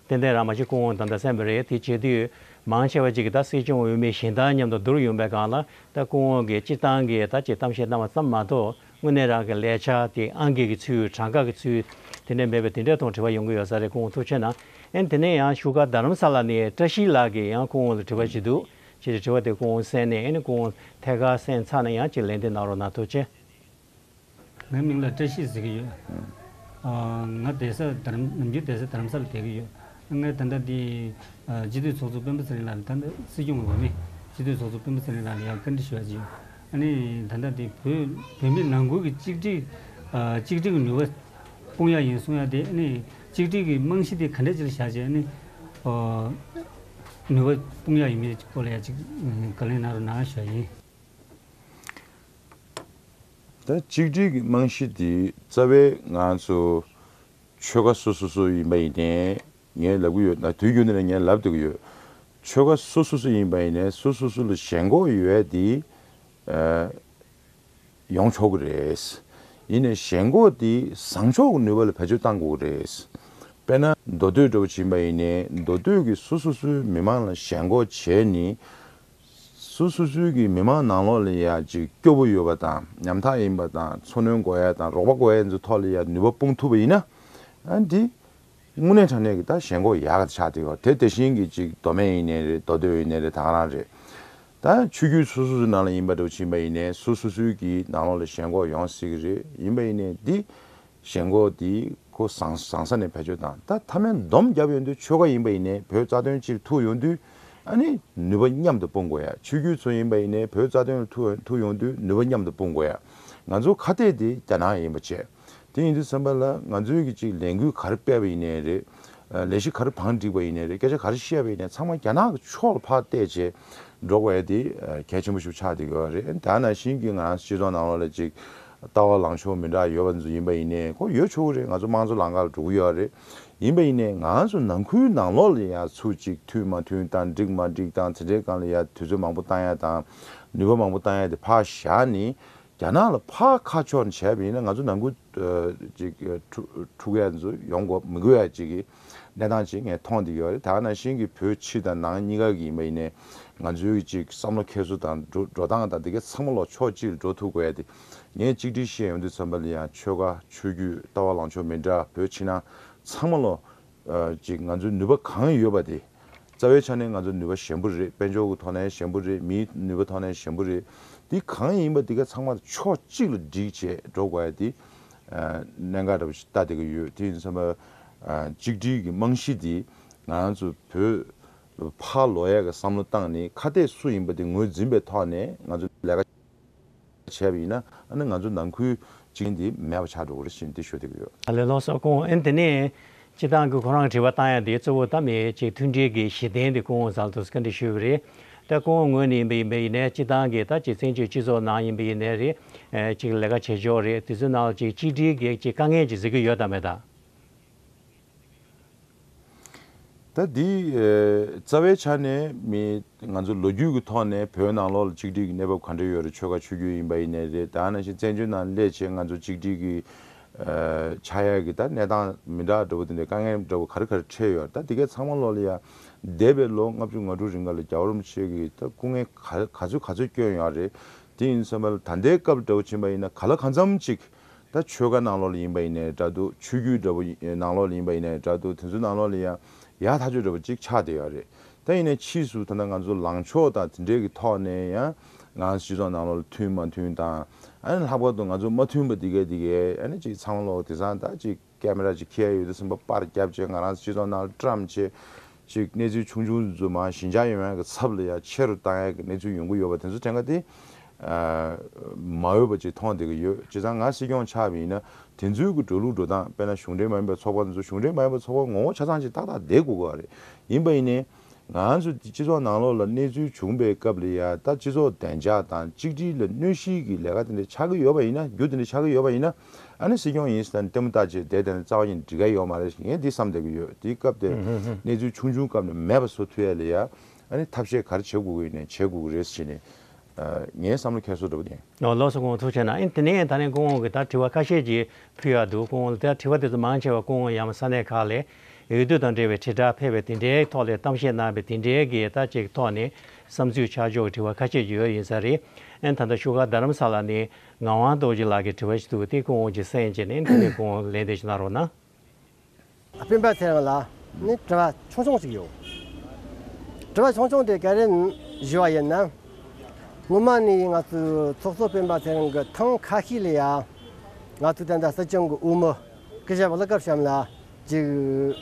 [SPEAKER 1] ཏན་ཏན་རང་མ་ཤི་ཁོང་ད་ལྟ་སེམས་པ་རེད་དེ་བྱེད་དུས་མང་ཆེ་བ་གཅིག་གིས་ད་སྲིད་སྐྱོང་འོས་མི་གཞན་དང་མཉམ་དུ་བསྡུར་ཡོང་པའི་སྒང་ལ་ད་སྐུ་ངོ་གིས་སྤྱིར་བཏང་གི་ད་ཅེས་གཏམ་བཤད་གནང་བ་ཙམ་མ་གཏོགས་དངོས་གནས་རང་གི་ལས་བྱ་དེ་ཨང་ཀི་གི་ཚུལ་གྲངས་ཀ་གི་ཚུལ་དེ་འདྲ་མེད་པས་དེ་འདྲའི་ཐོག་དྲི་བ་ཡོང་གི་ཡོད་ས་རེད་ཁོང་ཐུགས་ཆེ་ན་ཨེ་དེ་ནས་ཡང་བཞུགས་སྒར་རྡ་རམ་ས་ལ་ནས་བཀྲ་ཤིས་ལགས་ཀྱིས་ཡང་སྐུ་ངོ་ལ་དྲི་བ་བྱེད་འདུག་ཅེས་དྲི་བ་དེ་སྐུ་ངོ་གསན་ནས་ཨེ་སྐུ་ངོ་ཐད་ཀར་གསན་ཚར་ན་ཡང་ཅིག་ལན་དེ་གནང་རོགས་གནང་ཐུགས་ཆེ།
[SPEAKER 5] ངའི་མིང་ལ་བཀྲ་ཤིས་ཟེར་གྱི་ཡོད། ང་རྡ་ས་ནམ་རྒྱུན་རྡ་ས་དར་མ་ས་ལ་བསྡད་ཀྱི་ཡོད། ངས་ད་ལྟ་འདི་སྤྱི་འཐུས་ཚོགས་གཙོ་སྤེན་པ་ཚེ་རིང་ལགས་ལ་ད་ལྟ་སྲིད་སྐྱོང་གི་འོས་མི་སྤྱི་འཐུས་ཚོགས་གཙོ་སྤེན་པ་ཚེ་རིང་ལགས་ལ་ཡང་བཀའ་འདྲི་ཞུ་བར་བྱེད་ཡོད། ཨ་ནི་ད་ལྟ་འདི་བོད་མི་ནང་ཁུལ་གྱི་གཅིག་སྒྲིལ་གཅིག་སྒྲིལ་གྱི་ནུས་པ་སྤུངས་ཡག་ཡིན་གསུངས་ཡག་དེ་ཨ་ནི་གཅིག་སྒྲིལ་གྱི་རྨང་གཞི་དེ་ག་འདྲས་ཅིག་ལ་བཞག་བྱས་ནི་ནུས་པ་སྤུངས་ཡག་ཡིན་མིན་གྱི་སྐོར་ལ་ཡང་གཅིག་བཀའ་ལན་གནང་རོགས་གནང་ཞུ་བ་ཡིན།
[SPEAKER 2] ད་གཅིག་སྒྲིལ་གྱི་རྨང་གཞི་དེ་རྩ་བའི་ང་ཚོ་ཆོལ་ཁ་སོ་སོ་སོ་ཡིན་པ་ཡིན་ནའི་ངས་ལབ་གི་ཡོད་ན་དུས་རྒྱུན་དུ་ནས་ངས་ལབ་སྡོད་ཀྱི་ཡོད། ཆོལ་ཁ་སོ་སོ་སོ་ཡིན་པ་ཡིན་ནའི་སོ་སོ་སོ་ལ་ཞེན་ཁོག་ཡོད་ཡ་དེ་ཡོང་ཆོག་གི་རེད། ཡིན་ནའི་ཞེན་ཁོག་དེ་བཟང་ཕྱོགས་ཀྱི་ནུས་པ་ལ་བེད་སྤྱོད་གཏང་དགོས་ཀྱི་རེད། དཔེར་ན་མདོ་སྟོད་འགྲོ་བ་བྱིན་པ་ཡིན་ནའི་མདོ་སྟོད་ཀྱི་སོ་སོ་སོའི་མི་མང་ལ་ཞེན་ཁོག་བྱས་ནས་སུ་སུ་སུའི་གིས་མི་མང་ནང་ལོག་ལ་ཡ་ཅིག་སྐྱོ་བོ་ཡོད་པ་དང་ཉམ་ཐག་ཡིན་པ་དང་འཚོ་སྣོན་དགོས་ཡ་དང་རོགས་པ་དགོས་ཡ་ཚོའི་ཐོག་ལ་ཡ་ནུས་པ་སྤུངས་ཐུབ་པ་ཡིན་ན། ཨ་འདི། དངོས་གནས་དྲ་གནས་ཀྱི་ད་ཞེན་ཁོག་ཡ་ག་ཆག་དེ་གོ་དེ་དེ་བཞིན་གྱི་ཅིག་མདོ་སྨད་ཡིན་ནའི་རེད་མདོ་སྟོད་ཡིན་ནའི་རེད་ད་ག་རང་རེད། ད་ཆུ་རྒྱུད་སུ་སུ་སུའི་ནང་ལ་ཡིན་པ་འདྲ་བོ་ཕྱིན་པ་ཡིན་ནའི་སུ་སུ་སུའི་གིས་ནང་ལོག་ལ་ཞེན་ཁོག་ཡོང་སྲིད་གི་རེད་ཡིན་པ་ཡིན་ནའི་འདི། ཞེན་ཁོག་འདི་ཁོ་བཟང་བཟང་ས་ནས་བེད་སྤྱོད་དང་ད་ཐ་མའི་འདོམས་རྒྱབ་ཡོང་དུས་ཆོལ་ཁ་ཡིན་པ་ཡིན་ནའི་བོད་རྩ་དོན་སྤྱིར་ཐུག་ཡོང་དུས་ཨ་ནི་ནུས་པ་མཉམ་དུ་སྤུངས་དགོས་ཡ་ཆོས་རྒྱུད་ཚོ་ཡིན་པ་ཡིན་ནའི་བོད་རྩ་དོན་ལ་ཐུག་ཐུག་ཡོང་དུས་ནུས་པ་མཉམ་དུ་སྤུངས་དགོས་ཡ་ང་ཚོ་ཁ་གཏད་དེ་རྒྱ་ནག་ཡིན་པ་བྱས་དེ་ཡིན་དུས་སེམས་པ་ལ་ང་ཚོའི་གི་ཅིག་ལས་འགུལ་ག་རེ་སྤེལ་བ་ཡིན་ནའི་རེད་ལས་གཞི་ག་རེ་བང་བསྒྲིགས་པ་ཡིན་ནའི་རེད་སྐད་ཆ་ག་རེ་བཤད་པ་ཡིན་ནའི་ཚང་མ་རྒྱ་ནག་གི་ཕྱོགས་ལ་ཕར་བལྟས་བྱས་འགྲོ་དགོས་ཡ་དེ་གལ་ཆེན་པོ་ཞིག་ཆགས་བསྡད་དགོས་བ་རེད་ད་ནང་བཞིན་གི་ང་རང་སྤྱི་ཚོགས་ནང་ལོགས་ལ་ཅིག་ལྟ་བ་ལངས་ཕྱོགས་མི་འདྲ་ཡོད་པ་འདི་ཚོ་ཡིན་པ་ཡིན་ནའི་ཁོ་ཡོད་ཆོག་གི་རེད་ང་ཚོ་དམངས་གཙོ་ལང་ཀ་ལ་འགྲོ་གི་ཡོད་རེད་ཡིན་པ་ཡིན་ནའི་ང་ཚོ་ནང་ཁུལ་ནང་ལོག་ལ་ཡང་ཚུ་གཅིག་མཐུན་མ་མཐུན་དང་འགྲིག་མ་འགྲིག་དང་ཚེ་འདྲེན་སྒང་ལ་ཡང་དུས་ཚོད་མང་པོ་བཏང་ཡ་དང་ནུས་པ་མང་པོ་བཏང་ཡ་དེ་ཕག་བཞག་ནི་རྒྱ་ནག་ལ་ཕག་ཁ་ཕྱོགས་ནས་བྱས་པ་ཡིན་ན་ང་ཚོ་ནང་ཁུལ་ཕྲུག་གཡག་འདི་ཚོ་ཡོང་དགོས་མི་དགོས་ཡ་གཅིག་གི། གནས་སྟངས་གཅིག་ངས་མཐོང་བསྡད་ཡོད་རེད་ད་ནང་བཞིན་གྱི་བོད་ཕྱི་དང་ནང་གཉིས་ཀ་གི་ཡིན་པ་ཡིན་ནའི་ང་ཚོའི་གི་ཅིག་བསམ་བློ་ཁྱད་སུ་དང་འགྲོ་སྟངས་དང་དེ་གའི་ཚང་མ་ལོག་ཕྱོགས་གཅིག་ལ་འགྲོ་ཐུག་བས་ཏེ་ངས་གཅིག་བསྒྲིགས་བཤད་ཡོང་དུས་ཚང་མ་ལ་ཡང་ཆོལ་ཁ་ཆོས་རྒྱུད་ལྟ་བ་ལངས་ཕྱོགས་མི་འདྲ་བོད་ཕྱི་ནང་ཚང་མ་ལོག་ཅིག་ང་ཚོའི་ནུས་པ་གང་ཡོད་པ་དེ་རྩ་བའི་ཆ་ནས་ང་ཚོའི་ནུས་པ་ཞན་པོ་རེད་དཔལ་འབྱོར་གྱི་ཐོག་ནས་ཞན་པོ་རེད་མིའི་ནུས་པ་ཐོག་ནས་ཞན་པོ་རེད་དེ་གང་ཡིན་པ་དེ་ག་ཚང་མ་ལ་ཕྱོགས་གཅིག་ལ་བསྒྲིགས་བྱས་འགྲོ་དགོས་བས་ཏེ་གནད་འགག་འདྲ་པོ་ཞིག་ལྟ་བསྡད་ཀྱི་ཡོད་དེ་ཡིན་ཚང་མ་གཅིག་སྒྲིལ་གྱི་རྨང་གཞི་དེ་ང་ཚོ་བོད་ཕ་ལོ་ཡག་གི་བསམ་བློ་བཏང་ནས་ཁ་གཏད་སུ་ཡིན་པ་དེ་ངོས་འཛིན་པའི་ཐོག་ནས་ང་ཚོ་ལས་ཀ་བྱས་པ་ཡིན་ན་ཨ་ནི་ང་ཚོ་ནང་ཁུལ་གཅིག་མཁན་དེ་མེད་པ་ཆགས་འགྲོ་གི་རེད་བཞིན་དེ་ཤོད་ཐུབ་ཀྱི་ཡོད། ལས་རླུང་སོགས་སྐུ་འོན་
[SPEAKER 1] དེ་ནས་སྤྱི་བཏང་གིས་ཁོ་རང་གི་དྲི་བ་བཏང་ཡ་དེ་གཙོ་བོ་ད་མེད་ཅེས་མཐུན་སྒྲིལ་གྱི་གཞི་རྟེན་དེ་སྐུ་འོན་ཟལ་དུ་བཀའ་འདྲི་ཞུས་ཀྱི་རེད། ད་ཁོང་ངོས་ནས་ཡིན་པ་ཡིན་པའི་ཡིན་ནས་སྤྱི་བཏང་གི་ད་ཅིག་བཙན་བྱོལ་སྤྱི་ཚོགས་ནང་ཡིན་པའི་ཡིན་ནས་རེད། ཅིག་ལས་ཀ་བྱེད་ཕྱོགས་རེད་དེ་ཚོའི་ནང་ལ་ཅིག་གཅིག་སྒྲིལ་གེགས་ཅིག་དཀའ་ངལ་ཅིག་གཟིགས་ཀྱི་ཡོད་དམ་མེད་དམ།
[SPEAKER 2] ད་འདི་རྩ་བའི་ཆ་ནས་མི་ང་ཚོ་ལོ་རྒྱུས་ཀྱི་ཐོག་ནས་བོད་ནང་ལོགས་ལ་གཅིག་སྒྲིལ་གྱི་གནས་བབ་གང་འདྲ་ཡོད་རེད་ཆོལ་ཁ་ཆོས་རྒྱུད་ཡིན་པ་ཡིན་ནས་རེད་ད་ནང་བཞིན་བཙན་བྱོལ་ནང་སླད་ཆེད་ང་ཚོ་གཅིག་སྒྲིལ་གྱི་ཆག་ཡ་གི་ད་གནས་སྟངས་མི་འདྲ་འདྲ་བོ་དེ་འདྲའི་དཀའ་ངལ་འདྲ་བོ་ག་རེ་ག་རེ་འཕྲད་ཡོད་ད་དེ་གས་ཚང་མ་ལོག་ལེ་ཡ། འདས་པའི་ལོ་ལྔ་བཅུ་ང་དྲུག་རིང་ག་ལ་རྒྱ་བོར་མི་ཆེ་གི་ད་སྐུ་ངལ་ག་ག་ཚོད་ག་ཚོད་སྐྱོན་ཡོད་རེད་དེ་ཡིན་ས་མལ་ད་འདས་སྐབས་འདྲ་བོ་ཕྱིན་པ་ཡིན་ན་ག་ལ་ག་འཚམ་ཅིག་ད་ཆོལ་ཁ་ནང་ལོག་ལེ་ཡིན་པ་ཡིན་ནའི་འདྲ་འདུག་ཆོས་རྒྱུད་འདྲ་བོ་ནང་ལོག་ལེ་ཡིན་པ་ཡིན་ནའི་འདྲ་འདུག་དེ་ཚོ་ནང་ལོག་ལེ་ཡ། ཡ་ཐག་ཆོད་འདྲ་བོ་ཅིག་ཆག་བསྡད་ཡོད་རེད་ད་ཡིན་ནའི་ཕྱིས་སུ་ད་ནང་ང་ཚོ་ལངས་ཕྱོགས་དང་དེ་འདྲའི་གི་ཐོག་ནས་ཡ། ང་ཚོ་སྤྱི་ཚོགས་ནང་ལོགས་ལ་མཐུན་མ་མཐུན་དང། ཨ་ནི་ལྷག་པར་དུ་ང་ཚོ་མ་མཐུན་པ་འདི་གས་འདི་གས་ཨ་ནི་ཅིག་ཚང་ལོགས་དེ་སང་ད་ཅིག་ཀ་མེ་ར་ཅིག་ཁྱེར་ཡོད་དེ་སུན་པ་པར་བརྒྱབ་ཅེས་ང་རང་སྤྱི་ཚོགས་ནང་ལ་བཀྲམ་ཆེ། ཅིག་གནས་ཚུལ་ཆུང་ཆུང་རྫུན་མ་ཞི་འཇགས་ཡོང་ཡག་གི་ཚབ་ལ་ཡང་ཆེ་རུ་བཏང་ཡག་གི་གནས་ཚུལ་ཡོང་གི་ཡོད་པ་དེ་ཚོ་དེ་འགའ་དེ། མ་འོས་པ་ཅིག་མཐོང་བསྡད་ཀྱི་ཡོད་ཅེ་སང་ང་སྲིད་སྐྱོང་ཆགས་པ་ཡིན་ན་དེ་ཚོའི་གི་འགྲོ་ལུགས་འགྲོ་སྟངས་དཔེར་ན་གཞུང་འབྲེལ་མ་ཡིན་པའི་ཚོགས་པ་དེ་ཚོ་གཞུང་འབྲེལ་མ་ཡིན་པའི་ཚོགས་པ་ངོ་བོ་ཆ་ཚང་ཅིག་ཏག་ཏག་བསྡད་དགོས་གི་རེད་ཡིན་པ་ཡིན་ནའི། ང་ཚོ་སྤྱི་ཚོགས་ནང་ལོགས་ལ་གནས་ཚུལ་བྱུང་པའི་སྐབས་ལ་ཡང་ད་སྤྱི་ཚོགས་བདེ་འཇགས་དང་གཅིག་སྒྲིལ་ལ་གནོད་གཞིའི་གི་ལས་ཀ་དེ་འདྲ་ཆགས་ཀྱི་ཡོད་པ་ཡིན་ན་རྒྱུ་དེ་འདྲ་ཆགས་ཀྱི་ཡོད་པ་ཡིན་ན་ཨ་ནི་སྲིད་སྐྱོང་ཡིན་ཟེར་ན་ནི་ལྟད་མོ་ལྟ་བྱེད་དེ་དེ་འདྲ་རྩ་བ་ཉིད་འགྲིག་ག་ཡོད་མ་རེད་ངས་འདི་བསམ་བསྡད་ཀྱི་ཡོད་དེའི་སྐབས་དེར་གནས་ཚུལ་ཆུང་ཆུང་སྐབས་ནས་མེད་པ་བཟོ་ཐུ་ཡ་ལ་ཡང་ཨ་ནི་ཐབས་ཤེས་ག་རེ་བྱེད་དགོས་ཀྱི་ཡིན་ནས་བྱེད་དགོས་ཀྱི་རེད་ཟེར་ནས་ངའི་བསམ་བློ་ཁྱད་གསོད་འགྲོ་གི་ཡིན། ནོར་ལོགས་སུ་སྐུ་ངོ་ཐུག་བྱས་ན་ཨིན་
[SPEAKER 1] དེ་ནས་ད་ནི་སྐུ་ངོ་གིས་ད་དྲི་བ་ཁ་ཤས་ཀྱིས་ཕུལ་ཡག་འདུག་སྐུ་ངོ་ལ་དེ་དྲི་བ་དེ་ཚོ་མང་ཆེ་བ་སྐུ་ངོ་ཡང་མ་ས་གནས་ཁག་ལས་འོས་བསྡུ་དང་འབྲེལ་བའི་དྲིལ་བསྒྲགས་ཕལ་བའི་དེ་འབྲེལ་ཐོག་ལས་གཏམ་བཤད་གནང་བའི་དེ་འབྲེལ་གྱི་ལྟ་སྤྱད་ཀྱི་ཐོག་ནས་བསམ་ཚུལ་ཆ་འཇོག་གི་དྲི་བ་ཁ་ཤས་ཡོད་ཡིན་ས་རེད་ད་ལྟ་བཞུགས་སྒར་རྡ་རམ་ས་ལ་ནས་ངག་དབང་རྡོ་རྗེ་ལགས་ཀྱི་དྲི་བ་ཞིག་འདུག་དེ་ཁུངས་དབང་གྱི་སེང་ཅེས་ནས་འདི་ནས་ཁུངས་དབང་ལེན་འདེད་ཅིག་གནང་རོགས་གནང། སྤེན་པ་ཚེ་རིང་
[SPEAKER 6] ལགས་ནི་དྲི་བ་ཆུང་ཆུང་ཞིག་ཡོད། དྲི་བ་ཆུང་ཆུང་དེ་ག་རེ་བཞི་བ་ཡིན་ནམ། སྔོན་མ་ནས་ང་ཚོའི་ཚོགས་གཙོ་སྤེན་པ་ཚེ་རིང་གི་ཐང་ཁ་ཤས་ལ་ཡང་ང་ཚོའི་དེ་འདྲ་སྲིད་སྐྱོང་གི་དབུ་མི། སྐད་ཆ་ལབ་སྐབས་གཤམ་ལ་ཅིག་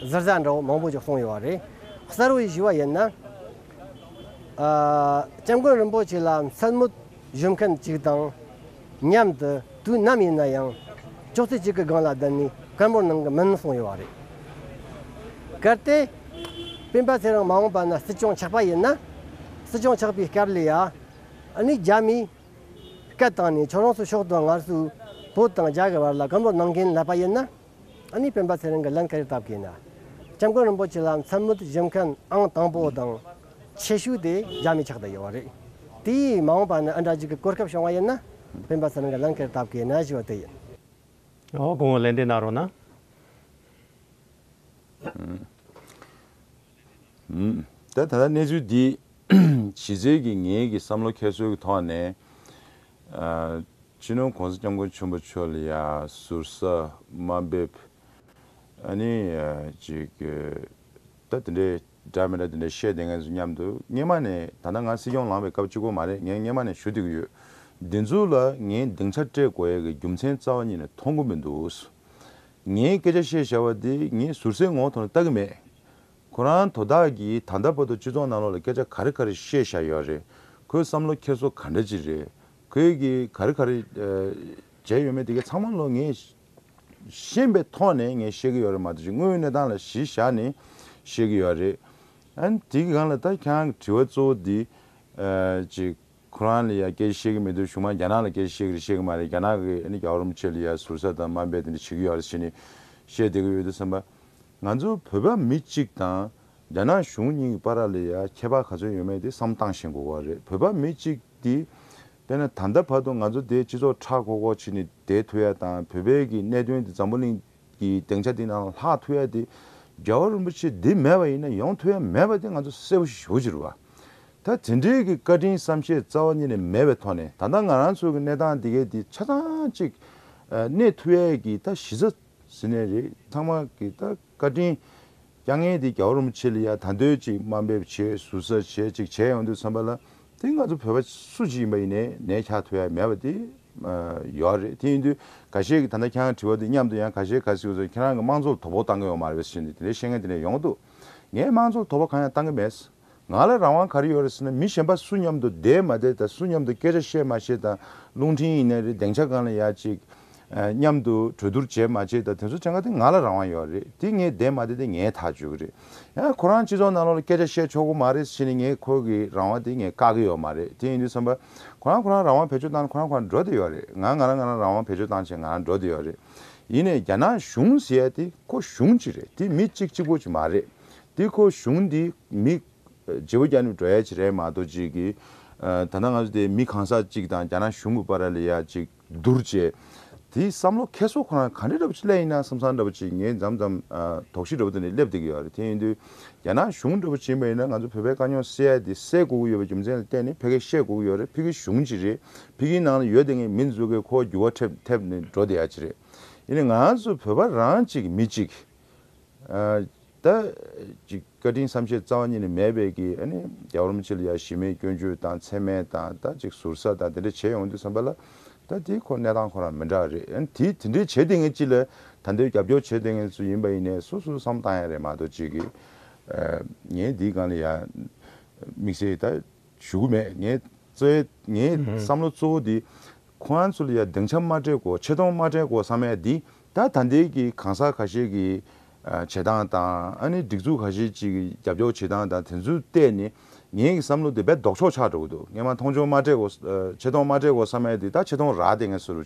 [SPEAKER 6] གཟར་གཟར་འདྲ་བོ་མང་པོ་ཅིག་གསུངས་ཡོད་པ་རེད། གསར་བུ་ཞིག་ཞུ་བ་ཡིན་ན། སྐྱབས་མགོན་རིན་པོ་ཆེ་ལ་མཚན་མོ་བཞུ་མཁན་ཅིག་དང་མཉམ་དུ་དུས་ནམ་ཡིན་ན་ཡང་ཅོག་ཙེ་གཅིག་གི་སྒང་ལ་བསྡད་ནས་སྐད་འབོར་གནང་གི་མིན་གསུངས་ཡོད་པ་རེད། གལ་ཏེ། སྤེན་པ་ཚེ་རིང་མ་འོངས་པ་ན་སྲིད་སྐྱོང་ཆགས་པ་ཡིན་ན། སྲིད་སྐྱོང་ཆགས་པའི་སྐབས་ལ་ཡང་ཨ་ནི་རྒྱ་མིས་སྐད་བཏང་ནས་ཁྱོད་རང་ཚོ་ཤོག་དང་ངར་སུ་བོད་དང་རྒྱ་གི་བར་ལ་སྐམ་པོ་གནང་མཁན་ལབ་པ་ཡིན་ན་ཨ་ནི་སྤེན་པ་ཚེ་རིང་གི་ལན་ག་རེ་བཏབ་དགོས་ན་སྐྱབས་མགོན་རིན་པོ་ཆེ་ལ་མཚན་སྨོད་བཞེས་མཁན་ཨང་དང་པོ་དང་ཆེ་ཤོས་དེ་རྒྱ་མི་ཆགས་དང་ཡོད་བ་རེད་དེ་ཡིས་མ་འོངས་པ་ནས་ཨ་འདྲ་ཅིག་གི་གོ་སྐབས་བྱུང་བ་ཡིན་ན་སྤེན་པ་ཚེ་རིང་གི་ལན་ག་རེ་བཏབ་དགོས་ན་ཞེས་བ་དེ་ཡིན། ཨོ་
[SPEAKER 1] དགོང་བོ་ལན་དེ་གནང་རོགས་གནང།
[SPEAKER 2] ད་ལྟ་གནས་ཚུལ་འདིས་གཞི་རྩའི་གི་ངེད་ཀྱི་བསམ་བློ་ཁྱད་གསོད་ཀྱི་ཐོག་ནས་སྤྱི་ནོར་གོང་ས་སྐྱབས་མགོན་ཆེན་པོ་མཆོག་ལ་ཡང་ཟུར་ཟ་དམའ་འབེབ་ཨ་ནི་ཅིག་ད་དེ་འདྲའི་འདྲ་མི་འདྲ་དེ་འདྲ་བཤད་བསྡད་ངེས་སོ་སྙམ་དུ་སྙེ་མ་ནས་ད་ལྟ་ང་སྲིད་སྐྱོང་ལངས་པའི་སྐབས་གཅིག་པོ་མ་རེད་ངས་སྙེ་མ་ནས་ཞུ་བསྡད་ཀྱི་ཡོད་འདི་ཚོ་ལ་ངས་སྡིངས་ཆ་སྤྲད་དགོས་ཡ་གི་རྒྱུ་མཚན་རྩ་བ་ཉིད་ནས་མཐོང་གི་མི་འདུག་ངས་སྐད་ཆ་བཤད་བཞག་པ་འདི་ངས་ཟུར་ཟའི་ངོ་བོ་ཐོག་ནས་བལྟ་གི་མེད་ཁོ་རང་དོ་བདག་གིས་ད་ལྟ་བར་དུ་སྤྱི་ཚོགས་ནང་ལོག་ལ་སྐད་ཆ་ག་རེ་ག་རེ་བཤད་བཞག་ཡོད་རེད། ཁོའི་བསམ་བློ་འཁྱེར་སོ་ག་འདྲ་ཅིག་རེད། ཁོས་གིས་ག་རེ་ག་རེ་བྱས་ཡོད་མེད་དེ་གས་ཚང་མ་ལོ་ངས་ཤེས་པའི་ཐོག་ནས་ངས་བཤད་གི་ཡོད་རེད་མ་གཏོགས་ཀྱི་དངོས་ཡོད་གནས་སྟངས་ལ་གཞི་བཞག་ནས་བཤད་གི་ཡོད་རེད། ཨན་དེ་གི་གང་ལ་ད་ཁྱང་གི་དྲི་བ་གཙོ་བོ་འདི་ཅི། ཁོ་རང་ལ་ཡ་སྐད་ཆ་བཤད་གི་མི་འདུག་གཞུང་མང་རྒྱ་ནག་ལ་སྐད་ཆ་བཤད་གི་རེད་བཤད་གི་མ་རེད་རྒྱ་ནག་གི་ཨ་ནི་རྒྱ་བོར་མ་ཆད་ལ་ཡ་ཟུར་ཟ་དང་དམའ་འབད་དེ་འདྲ་བྱེད་གི་ཡོད་རེད་ཞེས་ནས་བཤད་བསྡད་གི་ཡོད་འདུག་བསམ་པ། ང་ཚོའི་བོད་པ་མི་གཅིག་དང་རྒྱ་ནག་གཞུང་གཉིས་ཀྱི་པ་ར་ལས་ཡ་ཁྱད་པ་ག་ཚོད་ཡོད་མེད་དེ་བསམ་བཏང་ཞེན་དགོས་བ་རེད་བོད་པ་མི་གཅིག་དེ་དཔེ་ན་ད་ལྟ་བར་དུ་ང་ཚོ་དེ་སྤྱི་ཚོགས་ཁྲག་ཁོག་ཁོག་བྱེད་ནས་དེ་ཐུ་ཡ་དང་བོད་པའི་གི་གནད་དོན་དེ་འཛམ་བུ་གླིང་གི་སྡེང་ཆ་དེ་ནང་ལ་ལྷག་ཐུ་ཡ་དེ་རྒྱལ་བ་རིན་པོ་ཆེ་དེ་མེད་བ་ཡིན་ན་ཡོང་ཐུ་ཡ་མེད་བ་དེ་ང་ཚོ་གསལ་བོ་ཞིག་ཞུ་ཕྱིར་བ་ད་དེ་འདྲའི་གི་བཀའ་དྲིན་བསམ་ཤེས་རྩ་བ་ཉིད་ནས་མེད་བའི་ཐོག་ནས་ད་ལྟ་ང་རང་ཚོའི་གི་གནས་སྟངས་དེ་གའི་དེ་ཆ་ཚང་གཅིག་གནས་ཐུ་ཡའི་གི་ད་གཞི་རྩ། ཟི་ནས་རེད་ཚང་མ་གི་ད་བཀའ་དྲིན། རྐྱང་ངན་དེ་རྒྱ་བོར་མ་ཆེ་ལ་ཡ་ད་འདོད་ཅིག་དམའ་འབེབས་བྱེད་ཟུར་ཟ་བྱེད་ཅིག་བྱེད་ཡོང་འདོད་ཚང་པ་ལ་དེ་ང་ཚོ་བོད་པ་སུ་གཅིག་ཡིན་པ་ཡིན་ནས་ནས་ཁྱག་ཐོ་ཡ་མེད་པ་དེ་ཡོད་རེད་དེ་ཡིན་དུས་ག་ཤེད་ཀྱི་ད་ནས་ཁྱང་དྲི་བ་དེ་མཉམ་དུ་ཡང་ག་ཤེད་ག་སིག་ཟོ་ཁྱེད་རང་གི་དམངས་གཙོ་ལ་དོ་ཕོག་བཏང་གི་ཡོང་མ་རེད་ཟེར་ནས་དེ་འདྲའི་ཤེས་ངན་དེ་འདྲ་ཡོང་གི་འདུག་ངས་དམངས་གཙོ་ལ་དོ་ཕོག་གང་ཡང་བཏང་གི་མེད། ང་ལ་རང་དབང་ག་རེ་ཡོད་རེད་ཟེར་ན་མི་གཞན་པ་སུ་མཉམ་དུ་བསྡད་མ་བསྡད་དང་སུ་མཉམ་དུ་སྐད་ཆ་བཤད་མ་བཤད་དང་རླུང་འཕྲིན་ཡིན་ནས་རེད་གདེང་ཆ་གང་ལ་ཡག་ཅིག་མཉམ་དུ་གྲོས་བསྡུར་བྱས་མ་བྱས་དང་དེ་ཚོ་བྱ་ག་དེ་ང་ལ་རང་དབང་ཡོད་རེད་དེ་ངས་བསྡད་མ་བསྡད་དེ་ངའི་ཐག་གཅོད་གི་རེད་ཡང་ཁོ་རང་སྤྱི་ཚོགས་ནང་ལོག་ལ་སྐད་ཆ་བཤད་ཆོག་གོ་མ་རེད་ཟེར་ནས་ངས་ཁོ་གི་རང་དབང་དེ་ངས་བཀག་གི་ཡོད་མ་རེད་དེ་ཡིན་དུས་བསམ་པ་ཁོ་རང་ཁོ་རང་རང་དབང་བེད་སྤྱོད་བཏང་ན་ཁོ་རང་ཁོ་རང་འགྲོ་དེ་ཡོད་རེད་ང་ང་རང་ང་རང་རང་དབང་བེད་སྤྱོད་བཏང་བྱས་ང་རང་འགྲོ་དེ་ཡོད་རེད་ཡིན་ནས་རྒྱ་ནག་གཞུང་ཟེར་ཡ་དེ་ཁོ་གཞུང་གཅིག་རེད་དེ་མི་གཅིག་གཅིག་པོ་གཅིག་མ་རེད། འདི་ཁོ་གཞུང་འདི་མི། རྗེ་བོ་རྒྱ་ནུབ་བྲོ་ཡ་ཆེ་རེད་མ་གཏོགས་ཅིག་གི། ད་ནང་ང་ཚོ་དེ་མི་གང་ཟག་ཅིག་དང་རྒྱ་ནག་གཞུང་གི་པ་ར་ལི་ཡ་ཅིག་བསྡུར་བྱས། དེ་བསམ་བློ་ཁེ་སོ་ཁོ་རང་གང་འདྲ་འདྲ་པོ་ཅིག་ལས་ཡིན་ན་བསམ་བསམ་འདྲ་པོ་ཅིག་ངས་འཇམ་འཇམ་དོགས་གཞི་འདྲ་པོ་དེ་ནས་སླེབས་བསྡད་ཀྱི་ཡོད་རེད་དེ་ཡིན་དུས་རྒྱ་ནག་གཞུང་འདྲ་པོ་བྱིན་པ་ཡིན་ན་ང་ཚོ་བོད་པའི་དཀའ་རྙོག་སེལ་ཡ་དེ་སེལ་དགོས་ཀྱི་ཡོད་པའི་རྒྱུ་མཚན་ལ་བརྟེན་ནས་ཕལ་ཁེ་བཤད་དགོས་ཀྱི་ཡོད་རེད་ཕི་གི་གཞུང་ཅི་རེད་ཕི་གིའི་ནང་ལ་ཡོད་དེ་ངས་མི་འཛུགས་མཁན་ཁོ་བ་འགྱུར་བ་ཐེབས་ནས་འགྲོ་བསྡད་ཡ་ཅི་རེད་ཡིན་ན་ང་ཚོ་བོད་པ་རང་ཅིག་མི་ཅིག་ད་ཅིག་བཀའ་དྲིན་བསམ་ཤེས་རྩ་བ་ཉིད་ནས་མེད་པས་ཀྱི་ཨ་ནི་རྒྱ་རོམ་ཕྱི་ལ་ཡ་ཞི་མེད་སྐྱོན་བརྗོད་དང་མཚན་སྨད་དང་ད་ཅིག་ཟུར་ཟ་དང་དེ་འདྲ་བྱས་ཡོང་དུས་བསམ་པ་ལ་ད་དེའི་ཁོ་གནས་སྟངས་ཁོ་རང་མི་འདྲ་བ་རེད་ཨ་ནི་དེས་དེ་འདྲའི་བྱས་དེ་ངས་ཅི་ལ་ད་འདིར་རྒྱབ་སྐྱོར་བྱས་དེ་ངས་སུ་ཡིན་པ་ཡིན་ནས་སོ་སོ་བསམ་བཏང་ཡ་རེད་མ་གཏོགས་ཅིག་གི་ངས་འདིའི་སྒང་ལ་ཡ་དམིགས་བསལ་ད་ཞུ་གི་མེད། ངའི་རྩོད་ངའི་བསམ་བློ་གཙོ་བོ་འདི། ཁོ་རང་ཚོ་ལ་ཡང་སྡིངས་ཆ་མ་སྤྲད་གོ་ཆེ་མཐོང་མ་སྤྲད་གོ་བསམ་ཡས་འདི་ད་ད་འདེལ་གྱི་གང་ཟག་ཁ་ཤས་ཀྱི་བྱེད་སྟངས་དང་ཨ་ནི་སྒྲིག་འཛུགས་ཁ་ཤས་ཅིག་གི་རྒྱབ་སྐྱོར་བྱེད་སྟངས་དང་དེ་ཚོ་བལྟས་ནས་ངའི་བསམ་བློ་དེ་རྦད་ལྡོག་ཕྱོགས་ཆགས་འགྲོ་གི་འདུག་ངས་མ་མཐོང་ཆོག་མ་སྤྲད་གོ་ཆེ་མཐོང་མ་སྤྲད་གོ་བསམ་ཡས་འདི་ད་ཆེ་མཐོང་རག་དེ་ངས་བཟོ་རུ།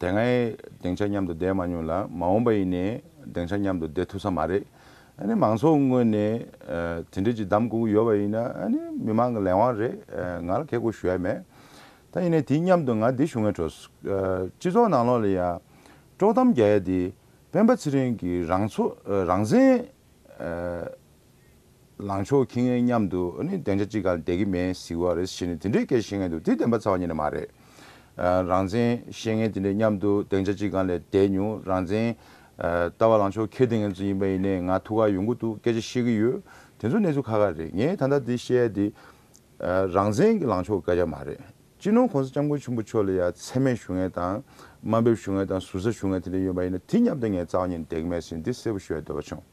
[SPEAKER 2] དེ་སྔའི་སྡིངས་ཆ་མཉམ་དུ་བསྡད་མ་མྱོང་ལ་མ་འོངས་པ་ཡིན་ནའི་སྡིངས་ཆ་མཉམ་དུ་བསྡད་ཐུབ་ས་མ་རེད། ཨ་ནི་མང་ཚོགས་ངོས་ནས་དེ་འབྲེལ་གྱི་གདམས་སྒུག་ཡོད་པ་ཡིན་ན་ཨ་ནི་མི་མང་གི་ལས་དབང་རེད་ང་ལ་ཁེགས་སྐོར་ཞུ་ཡ་མེད། ད་ཡིན་ནའི་དེའི་མཉམ་དུ་ང་འདི་ཞུ་ངེས་བྲོས། སྤྱི་ཚོགས་ནང་ལོགས་ལ་ཡང་དཀྲོག་གཏམ་རྒྱག་ཡ་དེ་སྤེན་པ་ཚེ་རིང་གིས་རང་ཚོ་རང་བཙན། ལངས་ཕྱོགས་ཁྱི་ངན་མཉམ་དུ་གདེང་ཆ་གཅིག་ག་ལ་བསྡད་ཀྱི་མེད་ཟིག་བ་རེད་ཟེར་ནས་དེ་འདྲའི་སྐད་བཤད་མཁན་དུ་དེ་བདེན་པ་ཚ་བ་ཉིད་ནས་མ་རེད། རང་བཙན་བཤད་མཁན་དེ་འདྲས་མཉམ་དུ་གདེང་ཆ་གཅིག་ག་ལ་བསྡད་མྱོང་རང་བཙན་ལྟ་བ་ལངས་ཕྱོགས་ཁྱི་དེ་ངན་ཚོ་ཡིན་པ་ཡིན་ནའི་ང་ཐུགས་ཁག་ཡོང་གི་འདུག་སྐད་ཆ་བཤད་ཀྱི་ཡོད་དེ་ཚོ་གནས་ཚུལ་ཁ་ཁ་རེད་ངས་ད་ལྟ་འདི་བཤད་ཡ་འདི། རང་བཙན་གྱི་ལངས་ཕྱོགས་སྐད་ཆ་མ་རེད་སྤྱི་ནོར་གོང་ས་སྐྱབས་མགོན་ཆེན་པོ་མཆོག་ལ་ཡ་མཚན་མེད་ཞུ་མཁན་དང་དམའ་འབེབས་ཞུ་མཁན་དང་ཟུར་ཟ་ཞུ་མཁན་དེ་འདྲས་ཡོད་པ་ཡིན་ན་དེ་མཉམ་དུ་ངས་ཚ་བ་ཉིད་ནས་བསྡད་ཀྱི་མེད་ཟེར་ནས་འདི་གསལ་པོ་ཞུ་ཡ་འདོད་པ་བྱུང།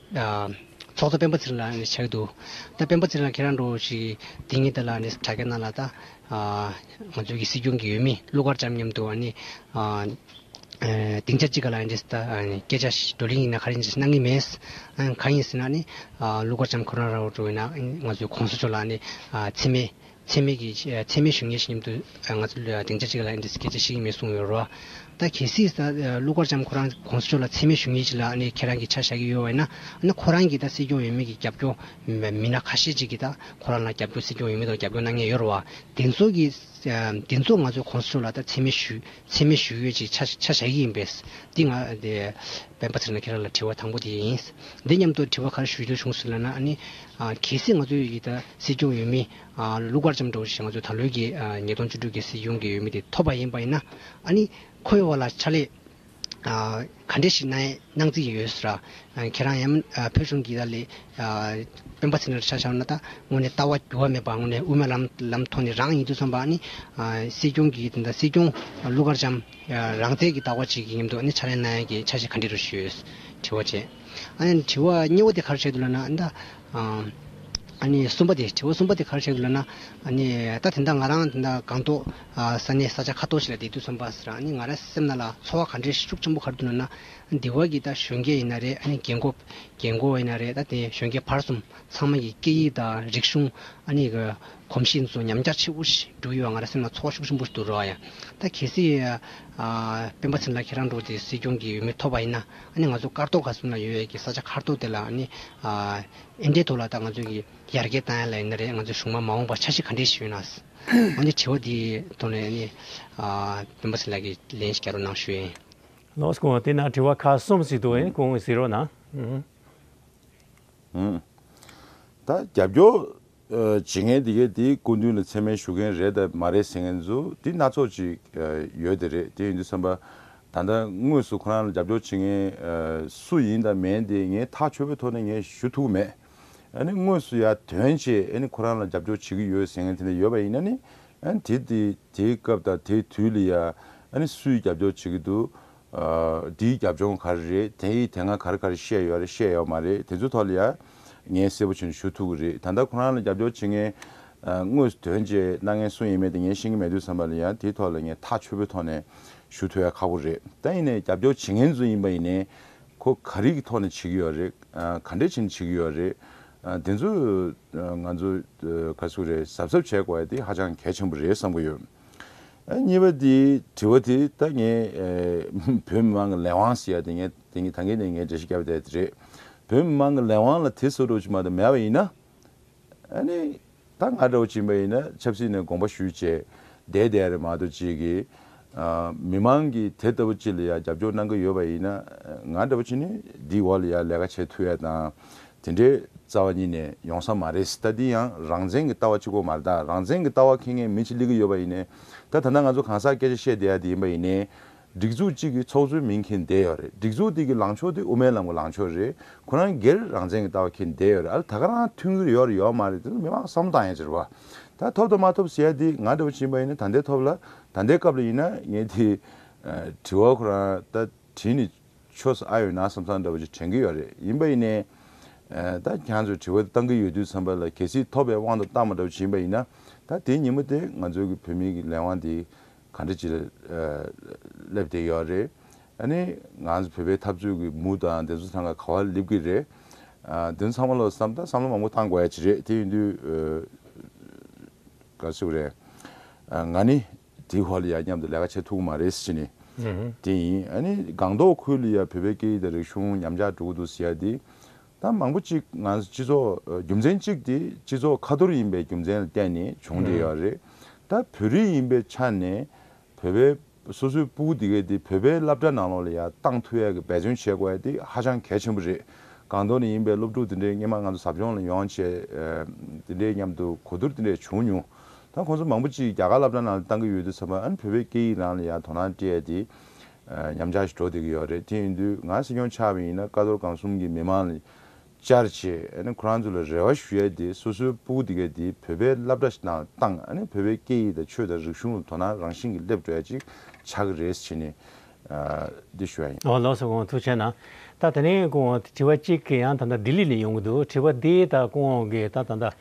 [SPEAKER 7] ཚོགས་གཙོ་སྤེན་པ་ཚེ་རིང་ལགས་ནས་བྱས་འདུག་ད་སྤེན་པ་ཚེ་རིང་ལགས་ཁྱེད་རང་འགྲོ་ཞིག་འདི་ཉིད་ལྟར་ལ་ནས་དྲ་རྒྱ་ནང་ལ་ད་ང་ཚོའི་གི་སྲིད་སྐྱོང་གི་ཡུལ་མི་ཀླུ་མཁར་བྱམས་མཉམ་དུ་ཨ་ནི་སྡིངས་ཆ་གཅིག་ག་ལ་ཨ་འདྲེས་ད་སྐད་ཆ་བགྲོ་གླིང་ཡིན་ན་ག་རེ་གནང་གི་མེད། གང་ཡིན་ཟེར་ན་ནི་ཀླུ་མཁར་བྱམས་ཁོ་རང་ར་འོར་འགྲོ་ཡིན་ན་ང་ཚོའི་གོང་ས་མཆོག་ལ་ནི་འཚེ་མེད་འཚེ་མེད་ཀྱི་འཚེ་མེད་བཞུགས་གནས་ཤིག་མཉམ་དུ་ང་ཚོ་སྡིངས་ཆ་གཅིག་ལ་འདི་སྐད་ཅེས་ཤིག་མི་གསུང་ཡོད་རོགས། ད་གལ་སྲིད་ད་ཀླུ་མཁར་བྱམས་ཁོ་རང་གོང་ས་མཆོག་ལ་འཚེ་མེད་བཞུགས་གནས་ཅིག་ལ་ཁྱེད་རང་གིས་ཆ་བཞག་གི་ཡོད་བས་ན་ཁོ་རང་གིས་ད་སྲིད་སྐྱོང་ཡོད་མེད་ཀྱི་རྒྱབ་སྐྱོར་མི་སྣ་ཁ་ཤས་ཅིག་གིས་ད་ཁོ་རང་ལ་རྒྱབ་སྐྱོར་སྲིད་སྐྱོང་ཡོད་མེད་ཐོག་རྒྱབ་སྐྱོར་གནང་ངེས་ཡོད་རོགས། དེ་ཚོ་གི་དེ་ཚོ་ང་ཚོས་གོང་ས་མཆོག་ལ་ད་འཚེ་མེད་བཞུགས་འཚེ་མེད་ཞུ་ཡོད་ཅེས་ཆ་བཞག་གི་ཡིན་པས། འདི་ང། སྤེན་པ་ཚེ་རིང་ལ་ཁྱེད་རང་ལ་དྲི་བ་དང་པོ་དེ་ཡིན། འདི་སྙམ་དུ་དྲི་བ་ག་རེ་ཞུ་རྒྱུ་བྱུང་ཟེར་ན་ནི། གལ་སྲིད་ང་ཚོའི་ཡི་ད་སྲིད་སྐྱོང་ཡོད་མི། ཀླུ་མཁར་བྱམས་དྲུང་ཆེ་ང་ཚོའི་ད་ལོའི་གི་ཉིས་སྟོང་བཅུ་དྲུག་གི་སྲིད་སྐྱོང་གི་ཡོད་མི་དེ་ཐོབ་པ་ཡིན་པ་ཡིན་ན། ཨ་ནི་ཁོའི་འོག་ལ་ཕྱག་ལས། ག་འདྲས་ཤིག་གནང་རྩིས་ཡོད་ཟེར། ཁྱེད་རང་ཡང་བོད་གཞུང་གི་ལས་དཔོན་པ་ཚེ་འདྲར་ཆགས་བཞག་ན་ད་དངོས་ནས་ལྟ་བ་འགྱུར་བ་མེད་པ་དངོས་ནས་དབུ་མའི་ལམ་ཐོག་ནས་རང་ཡིན་ཚུལ་མཚོན་པ་ནི། སྲིད་སྐྱོང་གི་དེ་འདྲ་སྲིད་སྐྱོང་ཀླུ་མཁར་བྱམས་རང་བཙན་གྱི་ལྟ་བ་ཅིག་ཡིན་འདུག་ཕྱག་ལེན་གནང་ཡ་གྱི་ཆ་ཞིག་ག་འདྲས་རུ་ཞུས། དྲི་བ་བྱས། དྲི་བ་གཉིས་བོ་དེ་གར་བྱས་འདུག་ལབ་ན་ད། གསུམ་པ་དེ་དྲི་བ་གསུམ་པ་དེ་གར་བྱས་འདུག་ལབ་ན། ད་དེ་འདྲ་ང་རང་དེ་འདྲ་གང་ཐོག་ས་གནས་ས་ཆ་ཁ་སྟོང་ཞིག་ལ་བསྡད་དུས་ཚོམས་པ་ཟེར་ཨ་ནི་ང་ར་སེམས་ན་ལ་འཚོ་བ་ག་འདྲའི་ཤུགས་ཆེན་པོ་གར་འདུག་ན་ན་འདི་བ་གི་ད་གཞོན་སྐྱེས་ཡིན་ན་རེད་ཨ་ནི་རྒན་འགོ་རྒན་འགོ་ཡིན་ན་རེད་ད་དེ་གཞོན་སྐྱེས་བར་གསུམ་ཚང་མ་གི་སྐད་ཡིག་དང་རིག་གཞུང་ཨ་ནི་གི་གོམས་གཤིས་འདི་ཚོ་ཉམས་རྒྱག་ཆེ་པོ་ཞིག་འགྲོ་ཡི་བ་ང་ར་སེམས་ན་འཚོ་བ་ཤུགས་ཆེན་པོ་ཞིག་འདུག་རོགས་ཡ་ད་གལ་སྲིད་སྤེན་པ་ཚེ་ལ་ཁྱེད་རང་འགྲོ་དེ་སྲིད་སྐྱོང་གི་འོས་མི་ཐོབ་པ་ཡིན་ན་ཨ་ནི་ང་ཚོ་དཀར་ཐོག་ག་གསུམ་ལ་ཡོད་ཡ་གི་ས་ཆ་ཁར་ཐོག་དེ་ལ་ཨ་ནི་ཨ་ཨེ་འདྲའི་ཐོག་ལ་ད་ང་ཚོ་གི་ཡར་རྒྱས་བཏང་ཡ་ལ་ཡིན་ན་རེད་ང་ཚོ་གཞུང་མ་མ་འོངས་པ་ཆ་ཤི་ག་འདྲའི་ཞིག་ཡོད་ན། འོན་ཀྱང་དྲི་བ་དེའི་དོན་ལ་ནི། སྤེན་པ་ཚེ་ལགས་ཀྱིས་ལན་ཞིག་བསྐྱར་རོགས་གནང་ཞུ། ལོགས་སུ་གོང་དེ་
[SPEAKER 1] ན་དྲི་བ་ཁག་གསུམ་ཞིག་འདུག་ཨེ་གོང་གཟིགས་རོགས་གནང།
[SPEAKER 2] ད་རྒྱབ་སྐྱོར་བྱེད་མཁན་དེ་གས་དེའི་སྐུ་མདུན་ལ་མཚན་སྨད་ཞུ་མཁན་རེད་དང་མ་རེད་ཟེར་མཁན་ཚོ་དེ་སྣ་ཚོགས་ཅིག་ཡོད་དེ་རེད་དེ་ཡིན་དུས་བསམ་པ། ད་ལྟ་དངོས་སུ་ཁོ་རང་ལ་རྒྱབ་སྐྱོར་བྱེད་མཁན་སུ་ཡིན་དང་མེན་དེ་ངས་ཐག་ཆོད་པོའི་ཐོག་ནས་ངས་ཞུ་ཐུབ་ཀི་མེད། ནི་དངོས་སུ་ཡང་དོན་ཆེད་ཁོ་རང་ལ་རྒྱབ་སྐྱོར་བྱེད་ཀྱི་ཡོད་ཟེར་མཁན་དེ་འདྲ་ཡོད་པ་ཡིན་ན་ནི་དེ་དེའི་སྐབས་དང་དེའི་དུས་ལ་ཡང་སུས་རྒྱབ་སྐྱོར་བྱེད་ཀྱི་འདུག་དེའི་རྒྱབ་ལྗོངས་ག་རེ་རེད་དེ་ཡིས་དེ་སྔ་ག་རེ་ག་རེ་བཤད་ཡོད་རེད་བཤད་ཡོད་མ་རེད་དེ་ཚོའི་ཐོག་ལ་ཡང་ངས་གསལ་པོ་བྱེད་ནས་ཞུ་ཐུབ་ཀྱི་རེད་ད་ལྟ་ཁོ་རང་ལ་རྒྱབ་སྐྱོར་བྱེད་མཁན་དངོས་སུ་དོན་ཆེད་གནང་མཁན་སུ་ཡིན་མིན་དེ་ངས་ཤེས་ཀྱི་མེད་དུས་བསམ་པ་ལ་ཡང་དེའི་ཐོག་ལ་ངས་ཐག་ཆོད་པོའི་ཐོག་ནས་ཞུ་ཐུབ་ཡ་ཁག་པོ་རེད་ད་ཡིན་ནས་རྒྱབ་སྐྱོར་བྱེད་མཁན་ཚོ་ཡིན་པ་ཡིན་ནས་ཁོ་ག་རིགས་ཀྱི་ཐོག་ནས་བྱེད་ཀྱི་ཡོད་རེད། ག་འདྲའི་ཆེད་ནས་བྱེད་ཀྱི་ཡོད་རེད། དེ་ཚོ་ང་ཚོ་ག་སུ་རེད་གཟབ་གཟབ་བྱེད་དགོས་དེ་ཧ་ཅང་གལ་ཆེན་པོ་རེད་བསམ་གྱི་ཡོད། གཉིས་པ་དེ་དྲི་བ་དེ་ད་ངས་བོད་མི་མང་གི་ལས་དབང་ཟེར་ཡ་དེ་ངས་ད་གིན་ནས་ངས་འགྲེལ་བཤད་བརྒྱབ་ཡོད་ད་དེ་རེད། བོད་མི་མང་གི་ལས་དབང་ལ་དེ་ཟེར་འགྲོ་ཅི་མ་ཏོག་མེད་པ་ཡིན་ན། ཨཱ་ནི། ད་ང་གྲོགས་བྱིན་པ་ཡིན་ན་ཆབ་སྲིད་ནས་དགོངས་པ་ཞུས་བྱས་བསྡད་བསྡད་རེད་མ་གཏོགས་གཅིག་གིས། མི་མང་གིས་དེ་ལྟ་བུ་གཅིག་ལ་ཡང་རྒྱབ་སྐྱོར་གནང་གི་ཡོད་པ་ཡིན་ན། ང་འདྲ་བོ་བྱིན་ནས་འདིའི་འོག་ལ་ཡང་ལས་ཀ་བྱེད་ཐུ་ཡ་དང། དེ་འདྲའི་རྩ་བ་ཉིད་ནས་ཡོང་ས་མ་རེད་ད་འདི་ཡང་རང་བཙན་གྱི་ལྟ་བ་གཅིག་པོ་མ་རྟགས་རང་བཙན་གྱི་ལྟ་བ་ཁེངས་ངེས་མི་གཅིག་གླེང་གི་ཡོད་པ་ཡིན་ནས། ད་ད་ལྟ་ང་ཚོ་གང་ཟག་སྐད་ཆ་བཤད་བསྡད་ཡ་དེ་ཡིན་པ་ཡིན་ནའི། སྒྲིག་འཛུགས་གཅིག་གི་ཚོགས་གཙོའི་མིང་ཁྱེར་བསྡད་ཡོད་རེད་སྒྲིག་འཛུགས་དེ་གི་ལངས་ཕྱོགས་དེ་དབུ་མའི་ལམ་གི་ལངས་ཕྱོགས་རེད་ཁོ་རང་སྒེར་རང་བཙན་གི་ལྟ་བ་ཁྱེར་བསྡད་ཡོད་རེད་ཨ་ལ་ད་ག་རང་ཐུགས་འགུལ་ཡོད་རེད་ཡོད་མ་རེད་དེ་ཚོ་མི་མང་བསམ་བློ་བཏང་ཡང་ཅི་རེད་བ། ད་ཐོབ་དང་མ་ཐོབ་ཟེར་ཡ་དེ་ང་འདྲ་བོ་བྱིན་པ་ཡིན་ན་ད་ལྟའི་ཐོབ་ལ་ད་ལྟའི་སྐབས་ལ་ཡིན་ན་ངས་དེ། དྲི་བ་ཁོ་རང་ད་དྲིས་ནས་ཆོས་ས་ཨ་ཡོད་ན་བསམ་བསམ་འདྲ་བོ་ཅིག་དྲན་གི་ཡོད་རེད་ཡིན་པ་ཡིན་ནས། ད་གྱང་ཚོས་དྲི་བ་དེ་བཏང་གི་ཡོད་དུས་བསམ་པ་ལ་གལ་སྲིད་ཐོབ་པའི་དབང་དུ་བཏང་མ་འདྲ་བོ་བྱིན་པ་ཡིན་ན་ད་དེ་ཉིན་མོ་དེ་ང་ཚོའི་གི་བོད་མིའི་གི་ལས་དབང་དེ་གང་འདྲ་ཅིག་ལ་སླེབས་བསྡད་ཡོད་རེད། ཨ་ནི་ང་ཚོ་བོད་པའི་འཐབ་རྩོད་ཀྱི་མུ་དང་བདེན་རྫུན་ཚང་ག་ག་བ་སླེབས་ཀྱི་རེད། དེ་ཚང་མ་ལ་བསམ་བཏང་བསམ་བློ་མང་པོ་བཏང་དགོས་ཡ་ཅི་རེད་དེ་ཡིན་དུས་ག་ཚོད་རེད། ང་ནི་དེའི་ཧོར་ལ་ཡར་མཉམ་དུ་ལས་ཀ་བྱེད་ཐུབ་གི་མ་རེད་ཟེར་ནི་དེ་ཡིན། ཨ་ནི་སྒང་ཏོག་ཁུལ་ལ་ཡང་བོད་པའི་སྐད་ཡིག་དང་རིག་གཞུང་ཉམས་ཆག་འགྲོ་གི་འདུག་ཟེར་ཡ་དེ་ད་མང་པོ་གཅིག་ང་ཚོ་སྤྱི་ཚོགས་རྒྱུ་མཚན་གཅིག་དེ་སྤྱི་ཚོགས་ཁ་ཐོར་ཡིན་པའི་རྒྱུ་མཚན་ལ་བརྟེན་ནས་བྱུང་འདྲེ་ཡོད་རེད། ད་བོད་རིགས་ཡིན་པའི་ཆ་ནས་བོད་པའི་སོ་སོའི་སྤུ་གུ་དེ་གས་དེ་བོད་པའི་བསླབ་གྲྭ་ནང་ལོགས་ལ་ཡ་བཏང་ཐུ་ཡ་གི་འབད་བརྩོན་བྱེད་དགོས་དེ་ཧ་ཅང་གལ་ཆེན་པོ་རེད། གང་དོར་ནས་ཡིན་པའི་སློབ་ཕྲུག་དེ་འདྲའི་སྔན་མ་ང་ཚོ་ཟབ་སྦྱོང་ལ་ཡོང་བྱས་དེ་འདྲའི་མཉམ་དུ་གོ་བསྡུར་དེ་འདྲས་བྱུང་མྱོང། ད་ཁོང་ཚོ་མང་པོ་གཅིག་རྒྱ་གར་བླ་བྲང་ནང་ལ་བཏང་གི་ཡོད་དུས་ཚང་མ་ཨ་ནི་བོད་པའི་སྐད་ཡིག་རང་ལ་ཡ་དོ་སྣང་སྤྲད་དེ་ཉམས་ཆག་ཞིག་འགྲོ་བསྡད་ཀྱི་ཡོད་རེད་དེ་ཡིན་དུས་ང་སྲིད་སྐྱོང་ཆགས་པ་ཡིན་ན་ཀ་རྡོར་སྒང་གསུམ་གྱི་མི་དམངས་ལ་བཅར་བྱེད་ཁོ་རང་ཚོ་ལ་རེ་བ་ཞུ་ཡ་དེ་སོ་སོའི་སྤུ་གུ་དེ་གས་དེ་བོད་པའི་བླ་བྲ་ཞིག་དང་ཏང་བོད་པའི་སྐད་ཡིག་དང་ཆོས་དང་རིག་གཞུང་ལ་དོ་སྣང་རང་བཞིན་གྱི་སླེབས་འགྲོ་ཡ་ཅིག་བྱ་གི་རེད་ཟེར་བྱས་ནས་འདི་ཞུ་ཡ་ཡིན། ཨོ་ལོགས་སུ་གང་ཐུག་
[SPEAKER 1] བྱས་ན་ད་ད་ནས་ཀུན་དབང་དྲི་བ་གཅིག་གི་ཡང་ད་ད་ལྡི་ལི་ནས་ཡོང་གི་འདུག་དྲི་བ་འདི་ད་ཀུན་དབང་གིས་ད་ད་ད།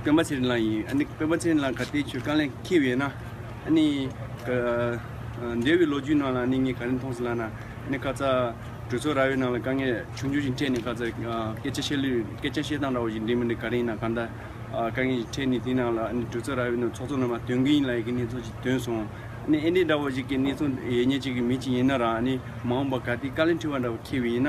[SPEAKER 8] སྤེན་པ་ཚེ་རིང་ལགས་ཡིན། ཨ་ནི། སྤེན་པ་ཚེ་རིང་ལགས་ག་དེའི་ཆོས་དཀའ་ལས་འཁེལ་བས་ན། ཨ་ནི། འདས་བའི་ལོ་རྒྱུས་ནང་ལ་ཨ་ནི་ངས་ག་རེ་མཐོང་སོང་ལ་ན། ཨ་ནི་ཁ་ཚ། གྲོས་ཚོགས་རྭ་བའི་ནང་ལ་དཀའ་ངལ་ཆུང་ཆུང་ཞིག་འཕྲད་ནས་ཁ་ཚ། སྐད་ཆ་བཤད་ལུས། སྐད་ཆ་བཤད་སྟངས་འདྲ་བོ་ཞིག་འགྲིག་མི་འགྲིག་ག་རེ་ཡིན་ན་གང་ལྟར། དཀའ་ངལ་ཞིག་འཕྲད་ནས་དེའི་ནང་ལ་ཨ་ནི་གྲོས་ཚོགས་རྭ་བའི་ནང་ཚོགས་གཙོ་རྣམ་པ་དོན་གྱི་ཡིན་ལ་ཡི་གེ་གནས་ཚུལ་ཞིག་བཏོན་སོང། ཨ་ནི་ཨེ་འདྲ་འདྲ་བོ་ཞིག་གི་གནས་ཚུལ་ཡེ་ཉེས་ཅིག་གི་མི་ཅིག་ཡིན་ན་རང་ཨ་ནི་མ་འོངས་པར་ག་དེའི་དཀའ་ལས་འཕྲད་པ་འདྲ་བོ་འཁེལ་བས་ན།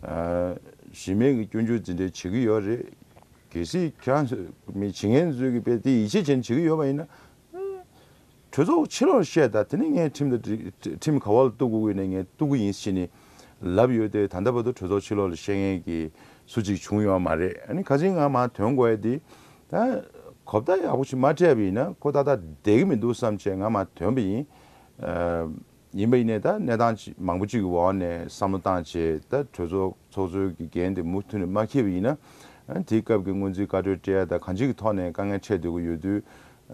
[SPEAKER 2] གཞི་མེད་ཀྱི་སྐྱོན་བརྗོད་འཛིན་གྲྭའི་བྱེད་ཀྱི་ཡོད་རེད། གལ་སྲིད་ཁྱེད་རང་མི་བྱེད་ངན་བཟོས་ཀྱི་དཔེ་དེ་ཡིད་ཆེས་ཅན་བྱེད་ཀྱི་ཡོད་པ་ཡིན་ན། གྲོས་ཚོགས་ཕྱི་ལོགས་བཤད་ད་དེ་ནས་ངས་ཁྲིམས་དང་ཁྲིམས་ག་བ་ལ་གཏུགས་དགོས་ནས་ངས་གཏུགས་ཀྱི་ཡིན་ཞེས་ནས་ལབ་ཡོད་དེ་ད་ལྟ་བར་དུ་གྲོས་ཚོགས་ཕྱི་ལོགས་ལ་བཤད་མཁན་གྱི་སུ་གཅིག་བྱུང་ཡོད་མ་རེད་ཨ་ནི་ག་ཅིག་ངང་མ་དོན་གོ་ཡ་དེ་ད་གོ་བརྡ་ཡག་པོ་ཞིག་མ་སྤྲད་པ་ཡིན་ན་ཁོ་ད་ལྟ་བསྡད་ཀྱི་མི་འདུག་བསམ་བྱས་ངང་མ་དོན་པ་ཡིན། ཡིན་པ་ཡིན་ནས་ད་གནས་སྟངས་མང་པོ་གཅིག་གི་འོག་ནས་བསམ་བློ་བཏང་རྗེས་ད་གྲོས་ཚོགས་ཚོགས་གཙོའི་གི་འགན་དེ་མུ་མཐུད་ནས་མ་འཁྱེར་བ་ཡིན་ན། དེའི་སྐབས་ཀྱི་སྔོན་རྩིས་བཀའ་གྲོས་བཀྲལ་ད་གང་ཅིའི་གི་ཐོག་ནས་དཀའ་ངལ་འཕྲད་སྡོད་ཀྱི་ཡོད་དུས།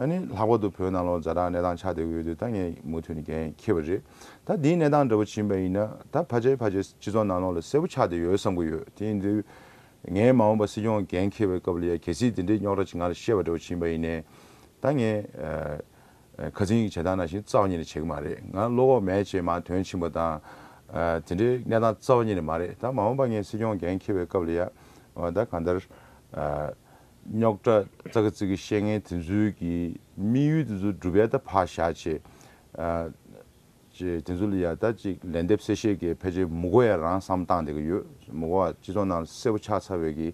[SPEAKER 2] ནི་ལྷག་པར་དུ་བོད་ནང་ལོ་ཛ་དྲག་གནས་སྟངས་ཆགས་སྡོད་ཀྱི་ཡོད་དུས་ད་ངས་མུ་མཐུད་ནས་འགན་འཁྱེར་བ་རེད་ད་དེའི་གནས་སྟངས་འདྲ་པོ་བྱིན་པ་ཡིན་ན་ད་ཕ་ཆེ་ཕ་ཆེ་སྤྱི་ཚོགས་ནང་ལོགས་ལ་གསལ་པོ་ཆགས་སྡོད་ཡོད་བསམ་གི་ཡོད་དེ་ཡིན་དུས། ངས་མ་འོངས་པ་སྲིད་སྐྱོང་གི་འགན་འཁྱེར་བའི་སྐབས་ལ་ཡ་གལ་སྲིད་དེ་འདྲའི་རྙོག་དྲ་ཆེ་ང་ལ་བཤད་པ་འདྲ་པོ་བྱིན་པ་ཡིན་ནས་ད་ངས། ཁ་ཚིག་གཉིས་ཀྱི་བྱེད་སྟངས་ནང་བཞིན་རྩ་བ་ཉིད་ནས་བྱེད་གི་མ་རེད་ང་བློ་ཁོག་མེད་ཅེས་མ་དོན་ཕྱིན་པ་དང། དེ་འདྲའི་གནས་སྟངས་རྩ་བ་ཉིད་ནས་མ་རེད་ད་མ་འོངས་པ་ངས་སྲིད་སྐྱོང་འགན་འཁྱེར་བའི་སྐབས་ལ་ཡ། ད་གང་ལྟར། རྙོག་དྲ་རྩ་ཁ་ཚིག་གི་བཤད་ངན་དེ་ཚོའི་གི་དམིགས་ཡུལ་དེ་ཚོ་བསྒྲུབ་ཡ་ད་ཕར་བཞག་ཅེས། དེ་ཚོ་ལ་ཡ་ད་ཅིག་ལན་འདེབས་གསལ་བཤད་གི་ཕལ་ཆེར་མུ་གོ་ཡ་རང་བསམ་བཏང་བསྡད་གི་ཡོད་མུ་གོ་བ་སྤྱི་ཚོགས་ནང་ལ་གསལ་པོ་ཆགས་ཚར་བའི་གི་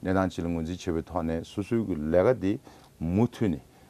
[SPEAKER 2] གནས་སྟངས་ཅིག་ལ་ངོས་འཛིན་བྱེད་པའི་ཐོག་ནས་སོ་སོའི་གི་ལས་ཀ་དེ་མུ་མཐུད་ནས་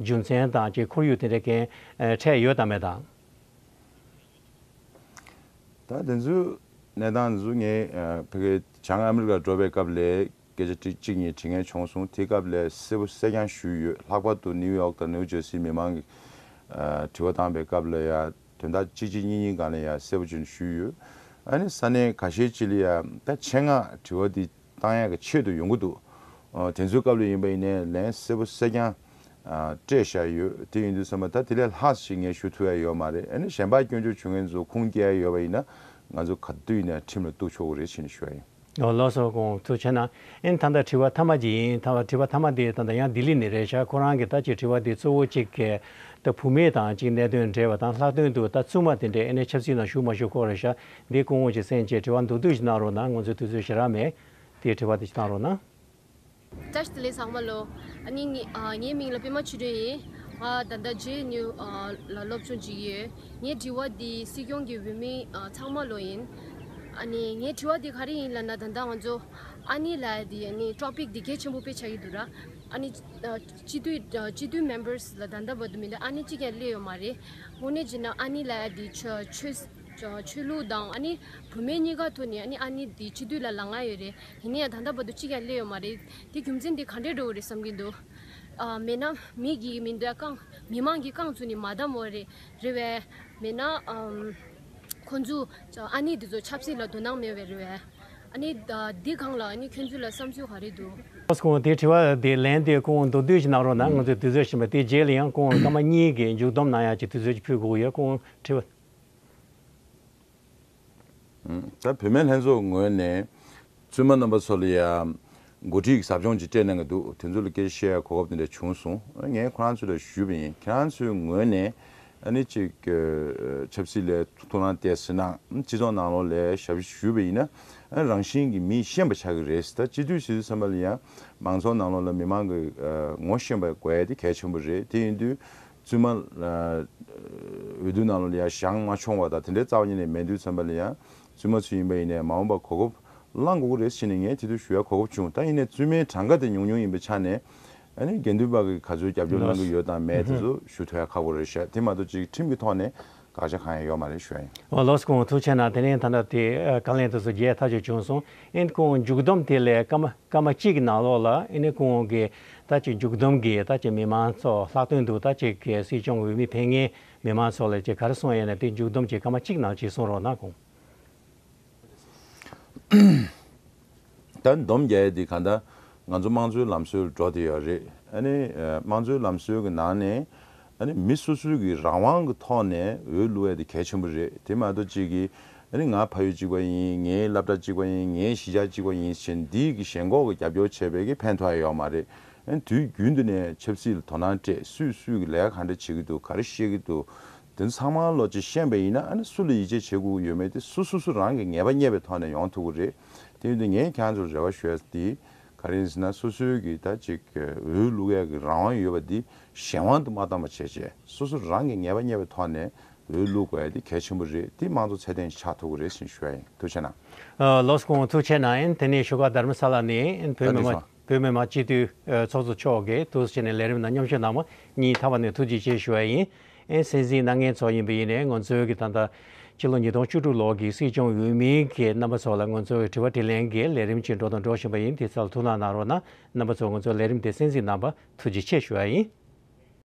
[SPEAKER 1] རྒྱུ་མཚན་དང་དཀྱིལ་འཁོར་ཡུལ་དེ་འདྲའི་རྐྱེན་ཕྲད་ཡོད་དམ་མེད་དང། ད་དེ་ཚོའི་གནས་སྟངས་འདི་ཚོ་ངས་
[SPEAKER 2] ཕ་གི་བྱང་ཨ་མི་རི་ཀ་འགྲོ་པའི་སྐབས་ལས་སྐད་ཆ་དྲི་གཅིག་གཉིས་དྲི་ངན་བྱུང་སོང་དེ་སྐབས་ལས་གསལ་པོ་གསལ་རྐྱང་ཞུས་ཡོད་ལྷག་པར་དུ་ནིའུ་ཡོག་དང་ནིའུ་ཇར་སི་མི་མང་གིས་དྲི་བ་བཏང་པའི་སྐབས་ལ་ཡང་དོན་དག་གཅིག་གཅིག་གཉིས་གཉིས་གང་ལས་ཡང་གསལ་པོ་ཅན་ཞུས་ཡོད་ཨ་ནི་ས་གནས་ག་ཤེད་ཅི་ལ་ཡང་ད་ཆེད་མངགས་དྲི་བ་འདི་ཏང་ཡག་གི་ཆེད་དུ་ཡོང་གི་འདུག་དེ་ཚོའི་སྐབས་ལས་ཡིན་པ་ཡིན་ནས་ལན་གསལ་པོ་གསལ་རྐྱང་སྤྲད་བཞག་ཡོད་དེ་ཡིན་དུས་བསམ་པ་ད་དེ་ལས་ལྷག་ཞིག་ངས་ཞུ་ཐུབ་ཡ་ཡོད་མ་རེད་ཨ་ནི་གཞན་པ་སྐྱོན་བརྗོད་བྱུང་མཁན་ཚོ་ཁུངས་སྐྱེལ་ཡ་ཡོད་པ་
[SPEAKER 1] ཡིན་ན་ང་ཚོ་ག་དུས་ཡིན་ན་ཁྲིམས་ལ་གཏུགས་ཆོག་གི་རེད་བྱིན་ནས་ཞུ་ཡ་ཡིན། ཨོ་ལོ་སོ་ཁོང་ཚོ་ཆེ་ན་ཨིན་ད་ད་དྲི་བ་མཐའ་མ་གཅིག་ཡིན་ད་དྲི་བ་མཐའ་མ་དེ་ད་ད་ཡང་ལྡི་ལི་ནས་རེད་ཤག་ཁོ་རང་གི་ད་ཆེ་དྲི་བ་དེ་གཙོ་བོ་གཅིག་ད་བུ་མེད་དང་གཅིག་གནད་དོན་འབྲེལ་བ་དང་ལྷག་དོན་དུ་ད་བཙུན་མ་དེ་འདྲས་ཨེ་ནས་ཆབ་སྲིད་ནང་ཞུགས་མ་ཞུགས་སྐོར་རེད་ཤག་འདི་སྐུ་ངོ་ཞེས་སེམས་བཅས་དྲི་བ་མདོར་བསྡུས་ཤིག་གནང་རོགས་གནང་ང་ཚོའི་དུས་ཚོད་ཞེ་རག་མེད་དེ་དྲི་བ་དེ་གནང་
[SPEAKER 9] རོགས་གནང། བཀྲ་ཤིས་ལས་བཟང་མ་ལོ། ངའི་མིང་ལ་པད་མ་ཆུ་སྒྲོན་ཡིན། ང་ད་ལྟ་རྗེས་སྙུ་ལ་སློབ་སྦྱོང་བྱེད་ཀྱི་ཡོད། ངའི་དྲི་བ་འདི་སྲིད་སྐྱོང་གི་འོས་མི་ཚང་མ་ལོ་ཡིན། ངའི་དྲི་བ་འདི་ག་རེ་ཡིན་ལ་ན་ད་ལྟ་ང་ཚོ་ཨ་ནེ་ལ Topic འདི་གལ་ཆེན་པོ་དཔེ་ཆགས་ཀྱི་འདུག་ར། སྤྱི་འཐུས Members ལ་ད་ལྟ་བར་དུ་མི་སྣ་ཨ་ནེ་གཅིག་ཀྱང་སླེབས་ཡོད་མ་རེད། དངོས་གནས་བྱས་ན་ཨ་ནེ་ལ་ཆོས་ཆོས་ལུགས་དང་ཨ་ནི་བུ་མེད་གཉིས་ཀ་ཐོག་ནས་ཨ་ནི་ཨ་ནི་དེ་སྤྱི་འཐུས་ལ་ལ་ང་ཡོད་རེད་ཡིན་ན་ཡང་ད་ལྟ་བར་དུ་གཅིག་ཀྱང་སླེབས་ཡོད་མ་རེད་དེ་རྒྱུ་མཚན་དེ་ག་འདྲས་འགྲོ་བ་རེད་བསམ་གྱི་འདུག་ཨ་མེད་ན་མི་གིས་མི་འདོད་རྐང་མི་མང་གིས་རྐང་ཚུགས་ནི་མ་བསྡམས་བོ་རེད་རེད་བས། མེད་ན་ཁོ་ཚོས་ཨ་ནི་དེ་ཚོ་ཆབ་སྲིད་ལ་དོ་སྣང་མེད་བས་རེད་བས། ཨ་ནི་འདི་གང་ལ་ཨ་ནི་ཁྱོད་ཚོས་ལ་བསམ་ཚུལ་ག་རེད་འདུག། ལྷ་ས་ཁོང་དེ་དྲི་བ་
[SPEAKER 1] དེ་ལན་དེ་ཁོང་མདོར་བསྡུས་ཤིག་གནང་རོགས་གནང་ང་ཚོས་དུས་ཚོད་ཕྱིན་པ་དེ་རྗེས་ལ་ཡང་ཁོང་སྐར་མ་གཉིས་ཀྱི་མཇུག་བསྡོམས་གནང་ཡག་ཅིག་དུས་ཚོད་ཅིག་ཕུལ་དགོས་ཡོད་ཁོང་དྲི་བ་
[SPEAKER 2] ད་བུད་མེད་ལྷན་ཚོགས་ངོས་ནས་བཙུན་མ་རྣམ་པ་ཚོ་ལ་ཡང་འགོ་ཁྲིད་ཟབ་སྦྱོང་ཅིག་སྤྲད་གནང་གི་འདུག་དེ་ཚོ་ལ་སྐད་ཆ་བཤད་ཡར་གོ་སྐབས་དེ་འདྲ་བྱུང་སོང་ངས་ཁོ་རང་ཚོ་ལ་ཞུས་པ་ཡིན་ཁྱེད་རང་ཚོའི་ངོས་ནས་ཨ་ནི་ཅིག་ཆབ་སྲིད་ལས་ཐུགས་སྣང་གཏད་ཟིན་ན་སྤྱི་ཚོགས་ནང་ལོགས་ལས་ཞབས་ཕྱི་ཞུས་པ་ཡིན་ན་རང་བཞིན་གྱི་མི་ཤེས་པ་ཆགས་ཀྱི་རེད་ད་སྤྱི་འཐུས་སྲིད་འཛིན་ཚང་མ་ལ་ཡང་མང་ཚོགས་ནང་ལོགས་ལ་མི་མང་གི་ངོ་ཤེས་པ་དགོས་ཡ་དེ་གལ་ཆེན་པོ་རེད་དེ་ཡིན་དུས་བཙུན་མ། འོས་བསྡུ་གནང་ལོ་ལ་ཡང་ཞག་ལྔ་འཆོང་བ་དང་དེ་འདྲའི་རྩ་བ་ཉིད་ནས་མེད་འདུག་བཙན་པ་ལ་ཡང་བཙུན་མ་ཚུལ་ཡིན་པ་ཡིན་ནའི་མ་འོངས་པར་གོ་སྐབས་བླང་དགོས་ཀྱི་རེད་བྱས་ནས་ངས་དེ་དུས་ཞུ་ཡ་གོ་སྐབས་བྱུང་ད་ཡིན་ནའི་བཙུན་མའི་གྲངས་ཀ་དེ་ཉུང་ཉུང་ཡིན་པའི་ཆ་ནས་དགེ་འདུན་པ་གིས་ག་ཚོད་རྒྱབ་སྐྱོར་གནང་གི་ཡོད་དང་མེད་དེ་ཚོ་ཞུ་ཐུ་ཡ་ཁག་པོ་རེད་ཤག་དེ་མ་གཏོགས་ཅིག་ཁྲིམས་ཀྱི་ཐོག་ནས་དགག་བྱ་གང་ཡང་ཡོད་མ་རེད་ཞོའི། ཨོ་ལོ་སི་ཁོང་ཐུགས་ཆེ་ན་
[SPEAKER 1] དེ་ནས་ད་ལྟ་དེ་ག་ལན་དུ་སུ་རྒྱལ་ཐག་ཆོད་བྱུང་སོང་ཨིན་ཁོང་མཇུག་བསྡོམས་དེ་ལས་སྐར་མ་སྐར་མ་གཅིག་གི་ནང་ལོགས་ལ་ཨིན་ཁོང་གི་ད་ཅིག་མཇུག་བསྡོམས་གི་ད་ཅིག་མི་མང་ཚོ་ལྷག་དོན་དུ་ད་ཅིག་གི་སྲིད་སྐྱོང་འོས་མི་དེ་ངའི་མི་མང་ཚོ་ལས་ཅིག་ག་རེ་གསུངས་ཡས་ན་དེ་མཇུག་བསྡོམས་ཀྱི་སྐར་མ་གཅིག་ནང་ཅིག་གསུངས་རོགས་གནང་གོང།
[SPEAKER 2] ད་འདོམ་རྒྱལ་འདི་ག་ད་ང་ཚོ་དམངས་གཙོའི་ལམ་སྲོལ་འགྲོ་དེ་ཡོད་རེད་ཨཱ་ནི་དམངས་གཙོའི་ལམ་སྲོལ་གི་ནང་ནས་ཨཱ་ནི་མི་སོ་སོའི་གི་རང་དབང་གི་ཐོག་ནས་འོས་བླུ་བ་དེ་གལ་ཆེན་པོ་རེད་དེ་མ་གཏོགས་གཅིག་གི་ཨཱ་ནི་ང་ཕ་ཡུལ་གཅིག་པ་ཡིན་ངའི་བླ་བྲ་གཅིག་པ་ཡིན་ངའི་གཞིས་ཆགས་གཅིག་པ་ཡིན་ཕྱིན་འདིས་གི་ཞེན་ཁོག་གི་རྒྱབ་སྐྱོར་བྱས་པས་གི་ཕན་ཐོག་ཡ་ཡོག་མ་རེད་ཨཱ་ནི་དུས་རྒྱུན་དུ་ནས་ཆབ་སྲིད་ལ་དོ་སྣང་སྤྲད་སུས་སུས་གི་ལས་ག་འདྲ་བྱེད་གི་འདུག་ག་རེ་བཤད་གི་འདུག་དེ་ཚང་མ་བློ་རྗེ་ཤེས་པ་ཡིན་ན་སུ་ལ་ཡིད་ཆེས་བྱེད་དགོས་ཀྱི་ཡོད་མེད་དེ་སུ་སོ་སོ་རང་གི་ངེས་པ་རྙེད་པའི་ཐོག་ནས་ཡོང་ཐུབ་ཀྱི་རེད། དེ་བས་ངས་ཁྱེད་ཚོར་རེ་བ་ཞུས་ཏེ། ག་རེ་ཡིན་ཟེར་ན་སོ་སོའི་གི་ད་ཅིག་འོས་བླུག་ཡག་གི་རང་དབང་ཡོད་པ་འདི་གཞན་དབང་དུ་མ་བཏང་པ་བྱས་རྗེས་སོ་སོ་རང་གི་ངེས་པ་རྙེད་པའི་ཐོག་ནས་འོས་བླུག་དགོས་ཡ་དེ་གལ་ཆེན་པོ་རེད་དེ་མང་གཙོ་ཚད་ལྡན་ཞིག་ཆགས་ཐུབ་ཀྱི་རེད་ཟེར་ཞུ་ཡ་ཡིན་ཐུགས་ཆེ་གནང། བློ་ཟ་ཀོང་
[SPEAKER 1] ཐུགས་ཆེ་གནང་ཡིན་དེ་ནས་བཞུགས་སྒར་དར་མ་ས་ལ་ནས་བོད་མི་མང། བོད་མི་མང་སྤྱི་འཐུས་ཚོགས་གཙོ་མཆོག་གིས་ཐུགས་བསུ་བྱས་ནས་ལས་རིམ་དང་མཉམ་ཞུགས་གནང་བ་ཉིད་མཐའ་བ་ནས་ཐུགས་རྗེ་ཆེ་ཞུ་བ་ཡིན། ཨན་སན་སིའི་སྣ་ལྔའི་ཚོགས་ཡིན་པ་ཡིན་ནས་ངོ་མཚོའི་གི་ད་ལྟ། ཕྱི་ལོ་ཉིས་སྟོང་བཅུ་དྲུག་ལོ་གི་སྲིད་སྐྱོང་འོས་མི་གི་རྣམ་པ་ཚོ་ལ་ངོ་མཚོའི་དྲི་བ་དྲི་ལན་གི་ལས་རིམ་ཅིག་འགྲོ་དང་འགྲོ་བཞིན་པ་ཡིན་དེ་ཚོ་ལ་ཐུགས་སྣང་གནང་རོགས་གནང་རྣམ་པ་ཚོ་ངོ་མཚོའི་ལས་རིམ་དེ་གསན་གཟིགས་གནང་བ་ཐུགས་རྗེ་ཆེ་ཞུ་བ་ཡིན།